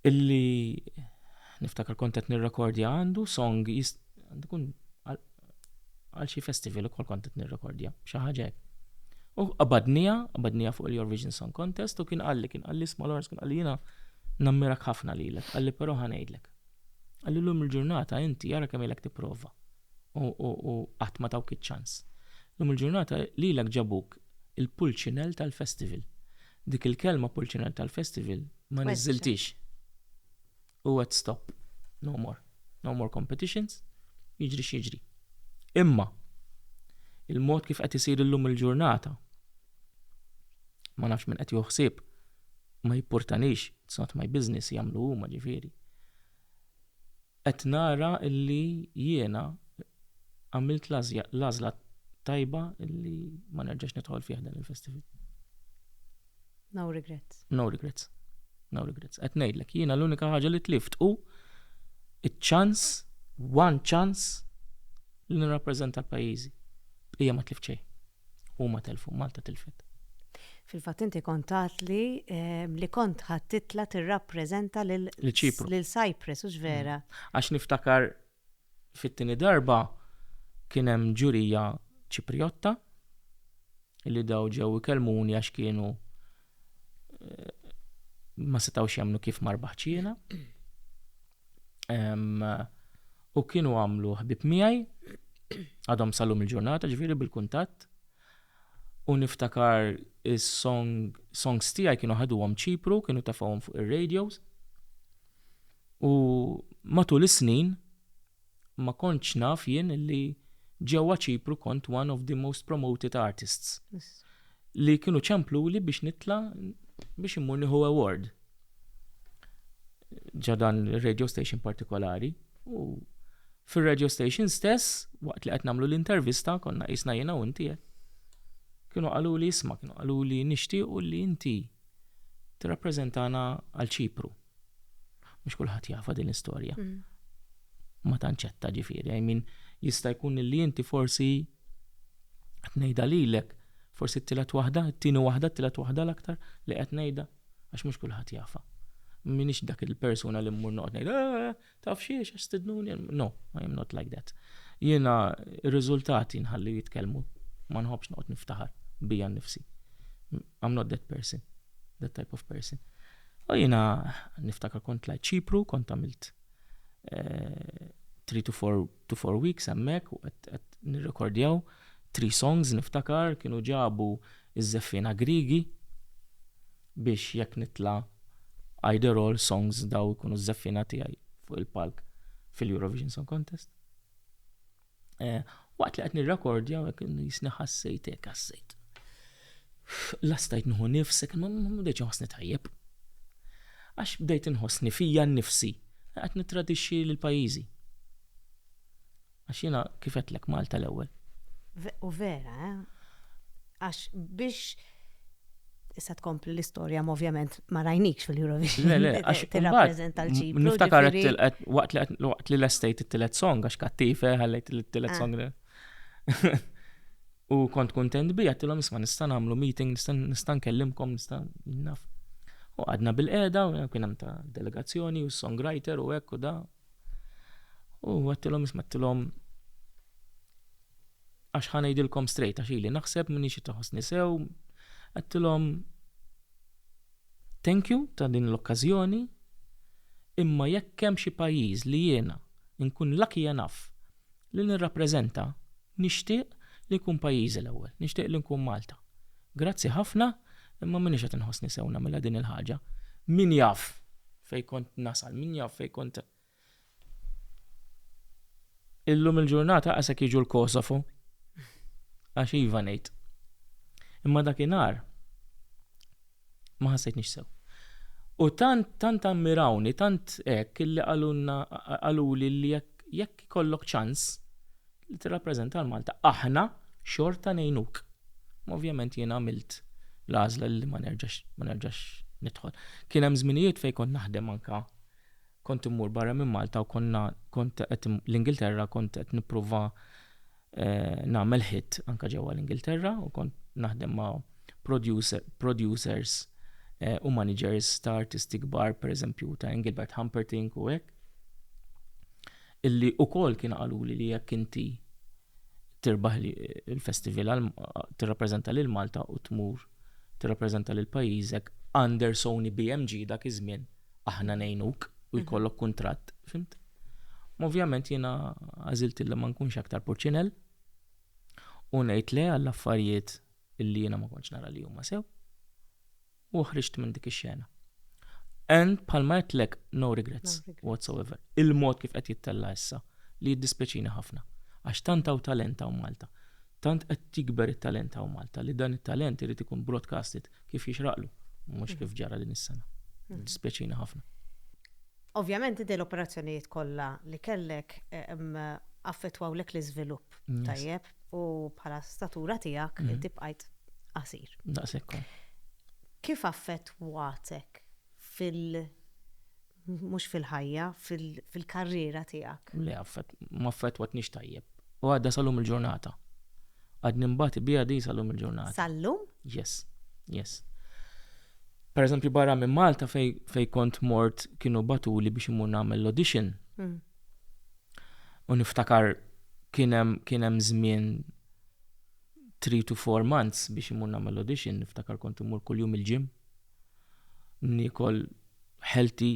A: illi niftakar kont qed nirrekordja għandu song għandu kun għal xi festival ukoll kont qed nirrekordja xi ħaġa hekk. U qabadnija, qabadnija fuq il-Eurovision Song Contest u kien qalli, kien qalli sma Lawrence, kien qalli jiena nammirak ħafna lilek, qalli però ħanejdlek. Għalli llum il-ġurnata inti ara kemm ilek tipprova u qatt ma tawk iċ-ċans. Llum il-ġurnata lilek ġabuk il-pulċinell tal-festival. Dik il-kelma pulċinell tal-festival ma niżiltix. U għed stop. No more. No more competitions. Jiġri x'jiġri. Imma il-mod kif qed isir illum il-ġurnata ma nafx minn qed joħsib ma jippurtanix, it's not my business, jagħmlu huma ġifieri. Qed nara illi jiena għamilt l-għażla tajba illi ma nerġax nidħol fih dan il-festival. No regrets.
C: No
A: regrets. No regrets. Qed ngħidlek, jiena
C: l-unika
A: ħaġa li tlift u iċ-ċans, one chance li nirrappreżenta l-pajjiżi. Hija ma tlift xejn. Huma telfu, Malta tilfet. Fil-fatt
C: inti kont tatli ehm, li kont ħadd titla tirrappreżenta lil Ċipru. Lil Cyprus, hux vera. Mm. Għax niftakar
A: fit-tieni darba kien hemm ġurija Ċipriotta li daw ġew ikellmuni għax kienu ma setawx jamnu kif marbaħ ċina. U kienu għamlu ħbib miegħi, għadhom salum il-ġurnata ġviri bil-kuntatt. U niftakar is-songs tiegħi kienu ħaduhom ċipru, kienu tafawhom fuq ir-radios. U matul is-snin, ma kontx naf jien li ġewwa Ċipru kont one of the most promoted artists li kienu ċempluli biex nitla' biex immur nieħu award ġo dan ir-radio station partikolari u fir-radio station stess waqt li qed nagħmlu l-intervista konna qisna jiena u inti hekk kienu qaluli isma' kienu qaluli nixtiequ li inti tirrappreżentana għal Ċipru. Mhux kulħadd jafa din l-istorja. Mm. Ma tanċetta ġifieri, I mean, jista' jkun li inti forsi qed ngħidha lilek, forsi t-tielet waħda, t-tieni waħda, t-tielet waħda l-aktar li qed ngħidha għax mhux kulħadd jafa. Minix dak il-persuna li mmur noqgħod ngħid, ah, Taf xi għax stidnuni? No, I am not like that. Jiena r-riżultati nħalli jitkellmu. Ma nħobbx noqgħod niftaħar bija nnifsi. I'm not that person, that type of person. U jiena niftakar kont lajt ċipru, kont għamilt 3 eh, to 4 to 4 weeks hemmhekk u qed nirrekordjaw 3 songs niftakar kienu ġabu Iż-żeffiena Griegi, biex jekk nitla' either all songs dawn ikunu ż-żeffiena tiegħi fuq il-palk fil-Eurovision Song Contest. Waqt li qed nirrekordja hekk qisni ħassejt hekk ħassejt. La stajt nieħu nifs, ma bdejtx inħossni tajjeb. Għax bdejt inħossni fija nnifsi qed nittradixxi lil pajjiżi. Għax jiena kif għedtlek Malta l-ewwel. U
C: vera, eh? Għax biex issa tkompli l-istorja, ma ovvjament ma rajnikx fil-Eurovision. Le, le, għax tirrappreżenta
A: l-ċipru.
C: Niftakar
A: waqt li l-estate it-tilet song, għax kattife, eh, għallajt it-tilet ah. song. U kont kontent bi, għattilom isma nista namlu meeting, nista nkellimkom, nista naf. U għadna bil-qeda, u kien hemm ta' delegazzjoni, u songwriter, u ekku da, U għattilhom isma' għattilhom għax ħanejdilkom strejt għax ili naħseb minni xi taħosni sew, għattilhom thank you ta' din l-okkażjoni imma jekk hemm xi pajjiż li jiena nkun lucky enough Li nirrappreżenta, nixtieq li jkun pajjiżi l-ewwel, nixtieq li nkun Malta. Grazzi ħafna, imma m'iniex qed inħossni sew nagħmilha din il-ħaġa. Min jaf fejn kont nasal, min jaf fejn kont. Illum il-ġurnata qasek jiġu l-Kosovo. Għax iva ngħid. Imma dakinhar. ma ħassejtnix sew. U tant tant ammirawni, tant hekk illi qalulna qaluli li jekk jekk ikollok ċans li tirrappreżenta l Malta aħna xorta ngħinuk. Ma ovvjament jien għamilt l-għażla li ma nerġax ma nerġax nidħol. Kien hemm żminijiet fejn kont naħdem anka Kont immur barra minn Malta u konna kont qed l-Ingilterra kont qed nippruva nagħmel hit anke ġewwa l-Ingilterra u kont naħdem ma' producers u managers ta' artisti kbar pereżempju ta' Engelbert Humperdinck u hekk illi wkoll kienu qaluli li jekk inti tirbaħ il-festival tirrappreżenta lil Malta u tmur tirrappreżenta lil pajjiżek under Sony BMG dak iż-żmien aħna ngħinuk u jkollok kuntratt, fimt? Ovvjament jiena għażilt li ma nkunx aktar purċinell u ngħid le għall-affarijiet illi jiena ma kontx nara li huma sew u ħriġt minn dik ix-xena. And palma għedtlek no regrets whatsoever. Il-mod kif qed jittella issa li jiddispeċina ħafna għax tant hawn talent hawn Malta. Tant qed jikber it-talent hawn Malta li dan it-talent irid ikun broadcasted kif jixraqlu, mhux kif ġara din is-sena. Dispjaċini ħafna. Ovvjament
C: inti l-operazzjonijiet kollha li kellek affettwawlek l-iżvilupp tajjeb u bħala statura tiegħek inti bqajt qasir. Daqshekk. Kif affettwatek fil- Mhux fil-ħajja, fil-karriera tiegħek. Le, ma
A: affettwatnix tajjeb. U għadha sal-lum il-ġurnata. Għad nimbati biha di sal-lum il-ġurnata. Sal-lum? Yes, yes. Per eżempju, barra minn Malta fej kont mort kienu batuli biex imur nagħmel l-audition. Hmm. U niftakar kienem kienem żmien 3 to 4 months biex imur nagħmel l-audition, niftakar kont imur kuljum il-ġim. nikol healthy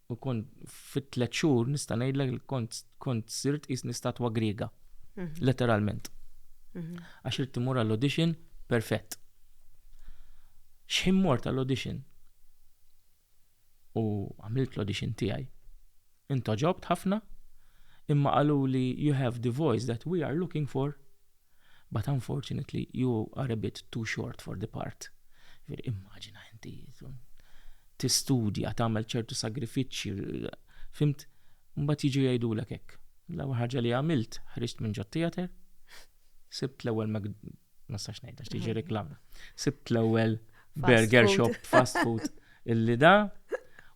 A: u kont fit tliet xhur nista' ngħidlek li kont kont sirt qisni statwa griega. Mhm. Letteralment. Mhm. Għax irid timur għall-audition perfett. X'ħin mort għall-audition? U għamilt l-audition tiegħi. Intoġobt ħafna, imma qalu li you have the voice that we are looking for. But unfortunately you are a bit too short for the part. Jiġifieri immaġina inti tistudja, tagħmel ċertu sagrifiċċji, fhimt, mbagħad jiġu jgħidulek hekk. L-ewwel ħaġa li għamilt ħriġt minn ġot-theatre, sibt l-ewwel ma nistax ngħid għax tiġi reklam. Sibt l-ewwel burger shop fast food illi da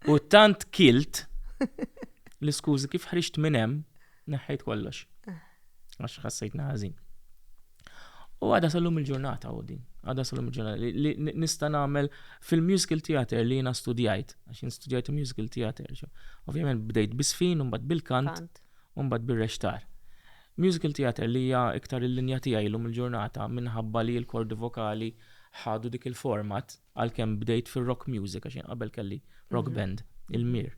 A: u tant kilt l-iskużi kif ħriġt minn hemm Neħħejt kollox. Għax ħassejtna ħażin. U għada sallum il-ġurnata u din. Għada sallum il-ġurnata. Li nista' nagħmel fil-musical theater li jiena studjajt, għax jien studjajt musical theater. Ovvjament bdejt bisfin, un mbagħad bil-kant, u mbagħad bir-rextar. Musical theater li hija iktar il-linja tiegħi lum il-ġurnata minħabba li l-kordi vokali ħadu dik il-format għalkemm bdejt fir-rock music għax jien qabel kelli rock mhm. band il-mir.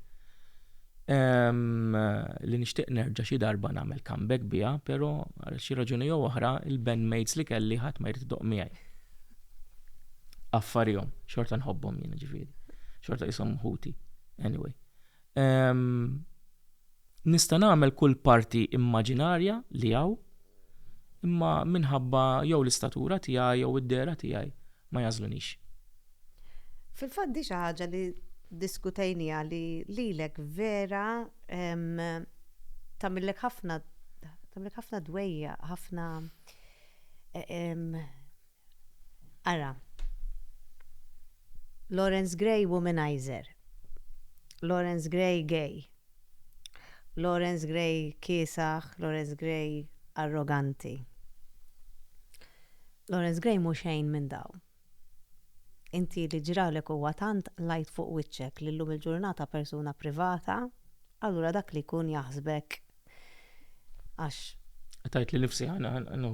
A: Li nixtieq nerġa' xi darba nagħmel comeback biha, però għal xi raġuni jew oħra il-bandmates li kelli ħadd ma jrid idoq miegħi. Affarihom, xorta nħobbhom jien ġifieri. Xorta jisom ħuti. Anyway. Nista' nagħmel kull parti immaġinarja li hawn, imma minħabba jew l-istatura tiegħi jew id-dehra tiegħi ma jagħżlunix.
C: Fil-fatt di xi ħaġa li ddiskutejniha li lilek vera tagħmillek ħafna tagħmillek ħafna dwejjaq, ħafna Ara. Lawrence Gray womanizer. Lawrence Gray gay. Lawrence Gray kiesaħ, Lawrence Gray arroganti. Lawrence Gray mhu xejn minn dawn. Inti li ġralek huwa tant lajt fuq wiċċek li llum il-ġurnata persuna privata, allura dak li jkun jaħsbek Għax. Tajt
A: li nifsi ħana ħana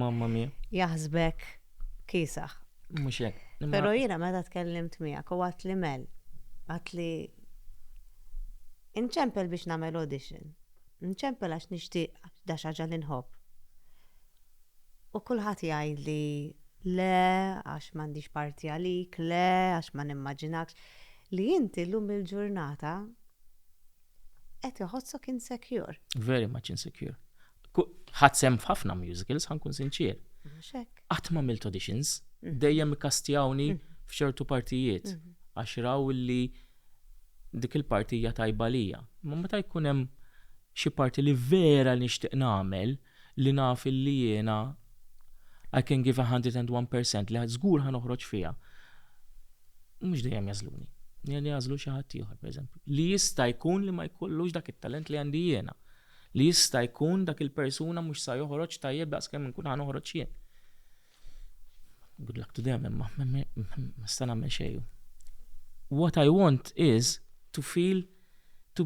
A: mamma mia. Jaħsbek
C: kisaħ. Mux jek.
A: Pero jina meta
C: tkellimt miegħek u għat li mel. Għat li inċempel biex namel audition. Nċempel għax nixtieq da xaġa li nħobb. U kulħadd jgħid li le għax m'għandix parti għalik, le għax ma nimmaġinakx li inti llum il-ġurnata qed iħossok insecure. Very much insecure.
A: Ħadd sem f'ħafna musicals, ħankun sinċier. Qatt ma milt auditions, mhm. dejjem ikkastjawni mhm. f'ċertu partijiet mhm. għax raw li dik il-partija tajba lija. Ma meta jkun hemm xi parti li vera nixtieq nagħmel, li naf illi jiena I can give a hundred and one percent li żgur ħa noħroġ fiha, mhux dejjem jagħżluni. Jien jagħżlu xi ħadd ieħor, pereżempju, li jista' jkun li ma jkollux dak it-talent li għandi jiena, li jista' jkun dak il-persuna mhux sa joħroġ tajjeb daqskemm inkun ħa noħroġ jien. Good luck to them, imma ma sta nagħmel xejn. What I want is to feel to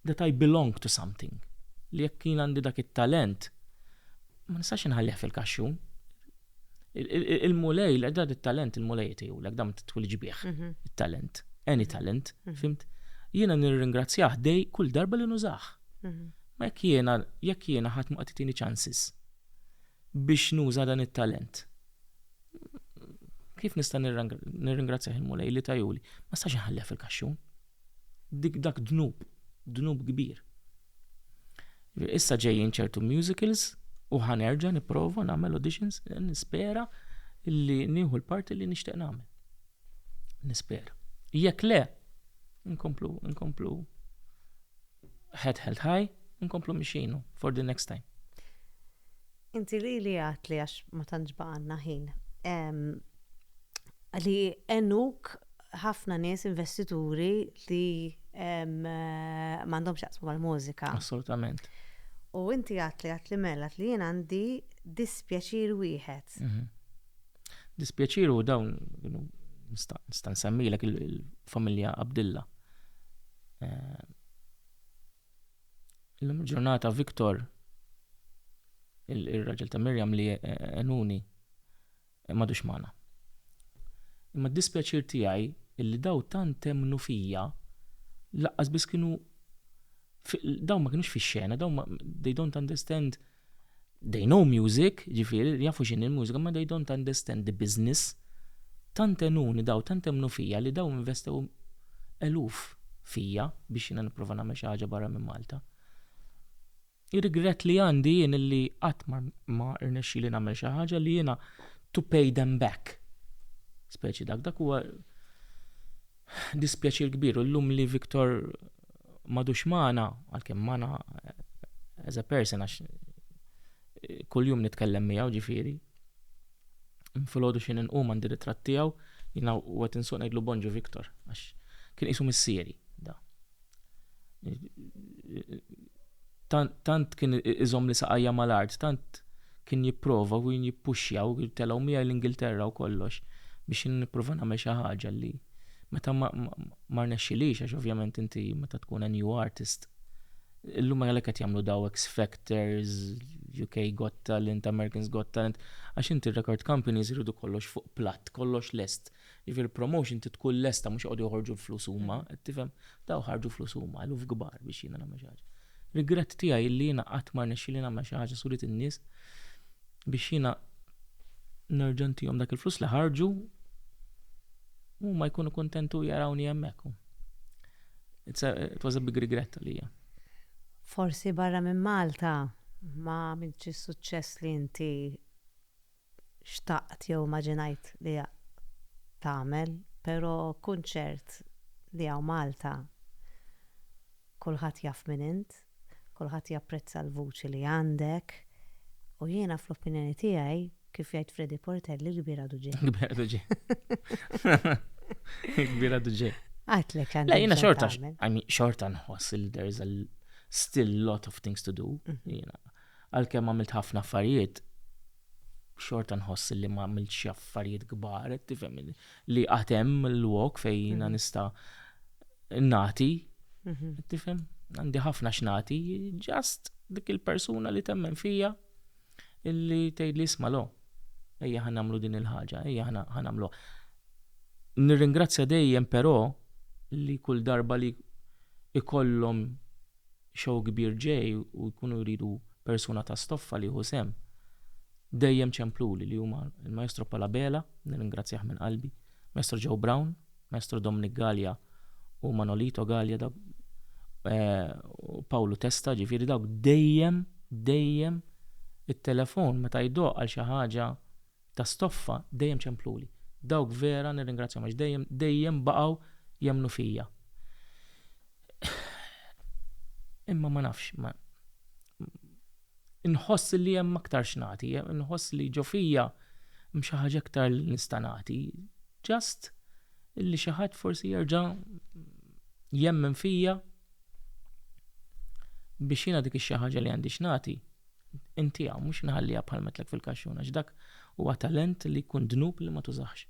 A: that I belong to something. Li jekk jien għandi dak it-talent, ma nistax inħallih fil-kaxxun. Il-mulej, l dak it-talent il-mulej tiegħu, l dam twilġ bih, mhm. it-talent, any mhm. talent, mhm. fimt? Jiena nirringrazzjah dej kull darba li nużax. Ma jekk jiena jekk jiena ħadd ma qatitini chances. biex nuża dan it-talent. Kif nista' nirringrazzjah il-Mulej li tajuli? Ma stax inħallih fil-kaxxun. Dik dak dnub, dnub kbir. Issa ġejjin ċertu musicals u ħanerġa' nipprova nagħmel auditions, nispera li nieħu l-parti li nixtieq nagħmel. Nispera. Jekk le, nkomplu, nkomplu head held high, nkomplu mixin for the next time.
C: Inti li li għat li għax ma tantx baqanna ħin. Li enuk ħafna nies investituri li m'għandhomx jaqsmu mal-mużika. Assolutament.
B: U inti
C: għat li għat li mela li jien għandi dispjaċir wieħed. Mhm.
B: Dispjaċir u dawn nista' nsemmilek il-familja Abdilla. Eh, illum il-ġurnata Viktor, il-raġel ta' Mirjam li eh, enuni, eh, madux mana. Imma d-dispjaċir tiegħi illi daw tant temnu fija laqqas biss kienu daw ma kienux fix-xena, daw they don't understand They know music, jiġifieri jafu x'inhi l-mużika imma they don't understand the business. Tant għenuni daw, tant emmnu fija li daw investew eluf fija biex jiena nipprova nagħmel xi ħaġa barra minn Malta. Ir-rigrett li għandi jien illi qatt ma rnexxieli nagħmel xi ħaġa li jiena to pay them back. Speċi dak, dak huwa Dispjaċir kbir u llum li Victor m'għadux magħna, għalkemm magħna as a person għax kuljum nitkellem miegħu ġifieri. Filgħodu xi inqum għandi ritratt tiegħu, jiena u qed insuq ngħidlu Bonġu Victor għax kien qisu missieri da. Tant kien iżom li saqajja mal-art, tant kien jipprova u kien jippuxja u telgħu miegħi l-Ingilterra u kollox biex nipprova nagħmel xi ħaġa li meta ma rnexxilix għax ovvjament inti meta tkun a new artist illum għalhekk qed jagħmlu daw X Factors, UK Got Talent, Americans Got Talent għax inti record companies iridu kollox fuq platt, kollox lest. Jiġifieri l-promotion trid tkun lesta mhux joqogħdu joħorġu l-flus huma, mm-hmm. qed tifhem? Daw ħarġu flus huma, eluf kbar biex jiena nagħmel xi ħaġa. Rigrett tiegħi li jiena qatt ma rnexxieli nagħmel xi ħaġa surit in-nies biex jiena nerġa' ntihom dak il-flus li ħarġu u ma jkunu kontentu jarawni hemmhekk. It was a big regret għalija. Forsi
C: barra minn Malta ma minċi suċċess li inti xtaqt jew immaġinajt li tagħmel, pero kun ċert li hawn Malta kulħadd jaf min int, kulħadd japprezza l-vuċi li għandek u jiena fl-opinjoni tiegħi, kif jgħid Freddy Portelli, il-kbir għadu ġej. Il-kbir għadu
B: ġej. Il-kbir għadu ġej. Għatlek għandek. La jiena
C: xorta,
B: xorta nħoss il there's a still lot of things to do. Mhm. Għalkemm għamilt ħafna affarijiet, xorta nħoss li ma għamilt xi affarijiet kbar, tifhem li qatt hemm l-wok fejn jiena mhm. nista' nati, mhm. tifhem? Għandi ħafna x'nati, ġast dik il-persuna li temmen fija illi tgħid li isma' lo. Ejja ħan nagħmlu din il-ħaġa, ejja ħan nagħmlu. Nirringrazzja dejjem però li kull darba li ikollhom show kbir ġej u jkunu jridu persuna ta' stoffa li jieħu sehem, dejjem ċempluli li huma l-Maestro Paul Abela, nirringrazzjah minn qalbi, Maestro Joe Brown, Maestro Dominic Galea u Manolito Galea dawk u Pawlu Testa ġifieri dawk dejjem, dejjem it-telefon meta jdoqq għal xi ħaġa ta' stoffa dejjem ċempluli. Dawk vera nirringrazzjahom għax dejjem, dejjem baqgħu jemmnu fija. Imma ma nafx, ma inħoss li hemm aktar x'nagħti, inħoss li ġo fija hemm xi ħaġa aktar li nista' nagħti. Just li xi ħadd forsi jerġa' jemmen fija. biex jiena dik xi ħaġa li għandi x'nagħti intiha mhux nħalliha bħal metlek fil-kaxxun għax dak huwa talent li jkun dnub li ma tużax.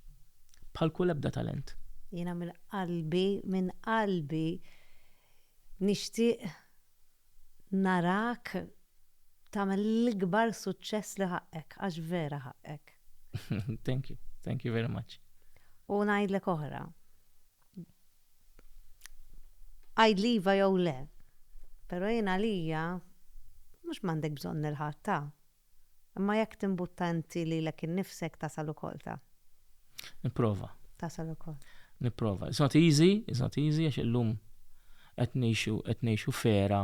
B: Bħal kull ebda talent. Jiena minn
C: qalbi, minn qalbi nixtieq narak tagħmel l-ikbar suċċess li ħaqqek għax vera ħaqqek. Thank you,
B: thank you very much. U ngħidlek
C: oħra. Għidli iva jew le. Però jien għalija mhux m'għandek bżonn lil ħadd ta. Imma jekk timbutta inti lilek innifsek tasal ukoll ta. Nipprova.
B: Tasal ukoll.
C: Nipprova. It's not
B: easy, it's not easy għax illum qed ngħixu qed ngħixu f'era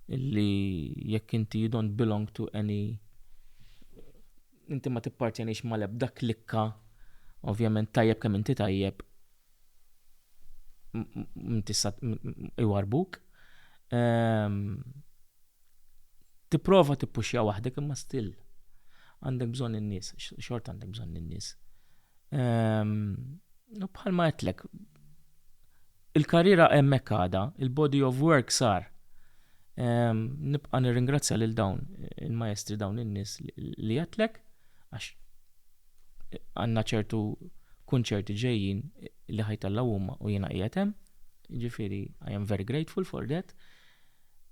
B: li jekk inti you don't belong to any Inti ma tippartjenix mal-ebda klikka, ovvjament tajjeb kemm inti tajjeb iwarrbuk. Ehm, tipprova tippuxja waħdek imma still għandek bżonn in-nies, xort għandek bżonn in-nies. Ehm,
A: bħalma għedtlek, Il-karriera hemmhekk għadha, il-body of work sar. Nibqa' nirringrazzja lil dawn il-maestri dawn in-nies li għedtlek għax għandna ċertu kunċerti ġejjin li ħajtellgħu huma u jiena qiegħed hemm. Ġifieri I am very grateful for that.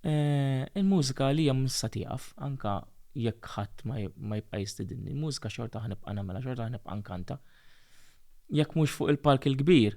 A: Eh, il-mużika li hemm issa tieqaf anka jekk ħadd ma jibqa' jistidinni, il-mużika xorta ħnibqa' nagħmilha, xorta ħnibqa' nkanta. Jekk mhux fuq il-palk il-kbir,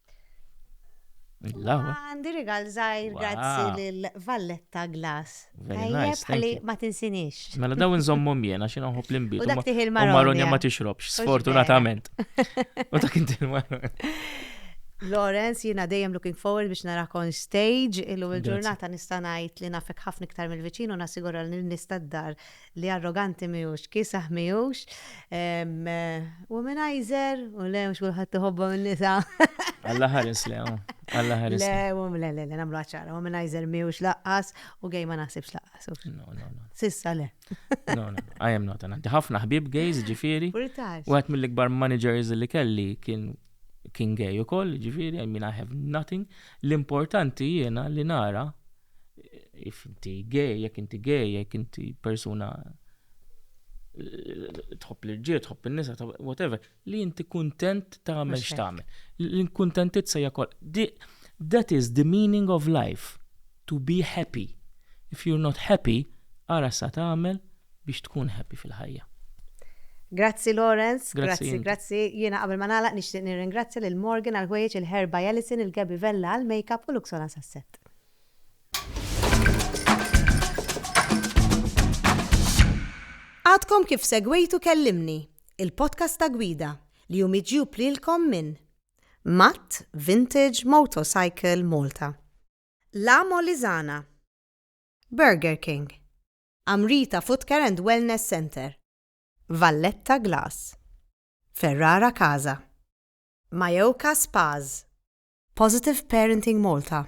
C: Għandi rigal zaħir, grazzi lil Valletta Glass. Tajjeb għalli ma tinsinix. Mela daw nżommu
A: mjena xin uħu plimbi. U dak tiħil marronja. Marronja
C: ma tixrobx,
A: sfortunatament. U dak inti marronja.
C: Lawrence, jina dejjem looking forward biex narak on stage, illum il-ġurnata nista' ngħid li nafek ħafna iktar mill-viċin u nassigura li nista' d-dar Li arroganti mhijiex, kiesaħ mhijiex, womanizer, u le mhux kulħadd iħobbhom in-nisa. Alla ħares
A: le, oh. Alla ħares. Le, le, le, le, nagħmlu
C: ċara, womanizer mhijiex laqqas u gej ma naħsibx laqqas. No, no, no. Sissa
A: le.
C: No, no,
A: I am not. Għandi ħafna ħbib gays ġifieri. U għet mill-ikbar managers li kelli kien kien gay ukoll, ġifieri, I mean I have nothing. L-importanti jiena li nara If inti gay, jekk inti gay, jekk inti persuna tħobb l-irġiel, tħobb in-nisa, whatever, li inti kuntent tagħmel x'tagħmel. L-inkuntentizza hija kol. That is the meaning of life, to be happy. If you're not happy, ara sa tagħmel biex tkun happy fil-ħajja. Grazzi
C: Lawrence, grazzi, grazzi. Jiena qabel ma nagħlaq nixtieq nirringrazzja lil Morgan għal ħwejjeġ il-Herba Yellison, il-Gaby Vella għal makeup u Luxona sas-set. Għadkom kif segwejtu Kellimni, il-podcast ta' gwida li hu miġjub lilkom minn Matt Vintage Motorcycle Malta, La Molizana, Burger King, Amrita Footcare and Wellness Center, Valletta Glass, Ferrara Casa, Majoka Spas, Positive Parenting Malta.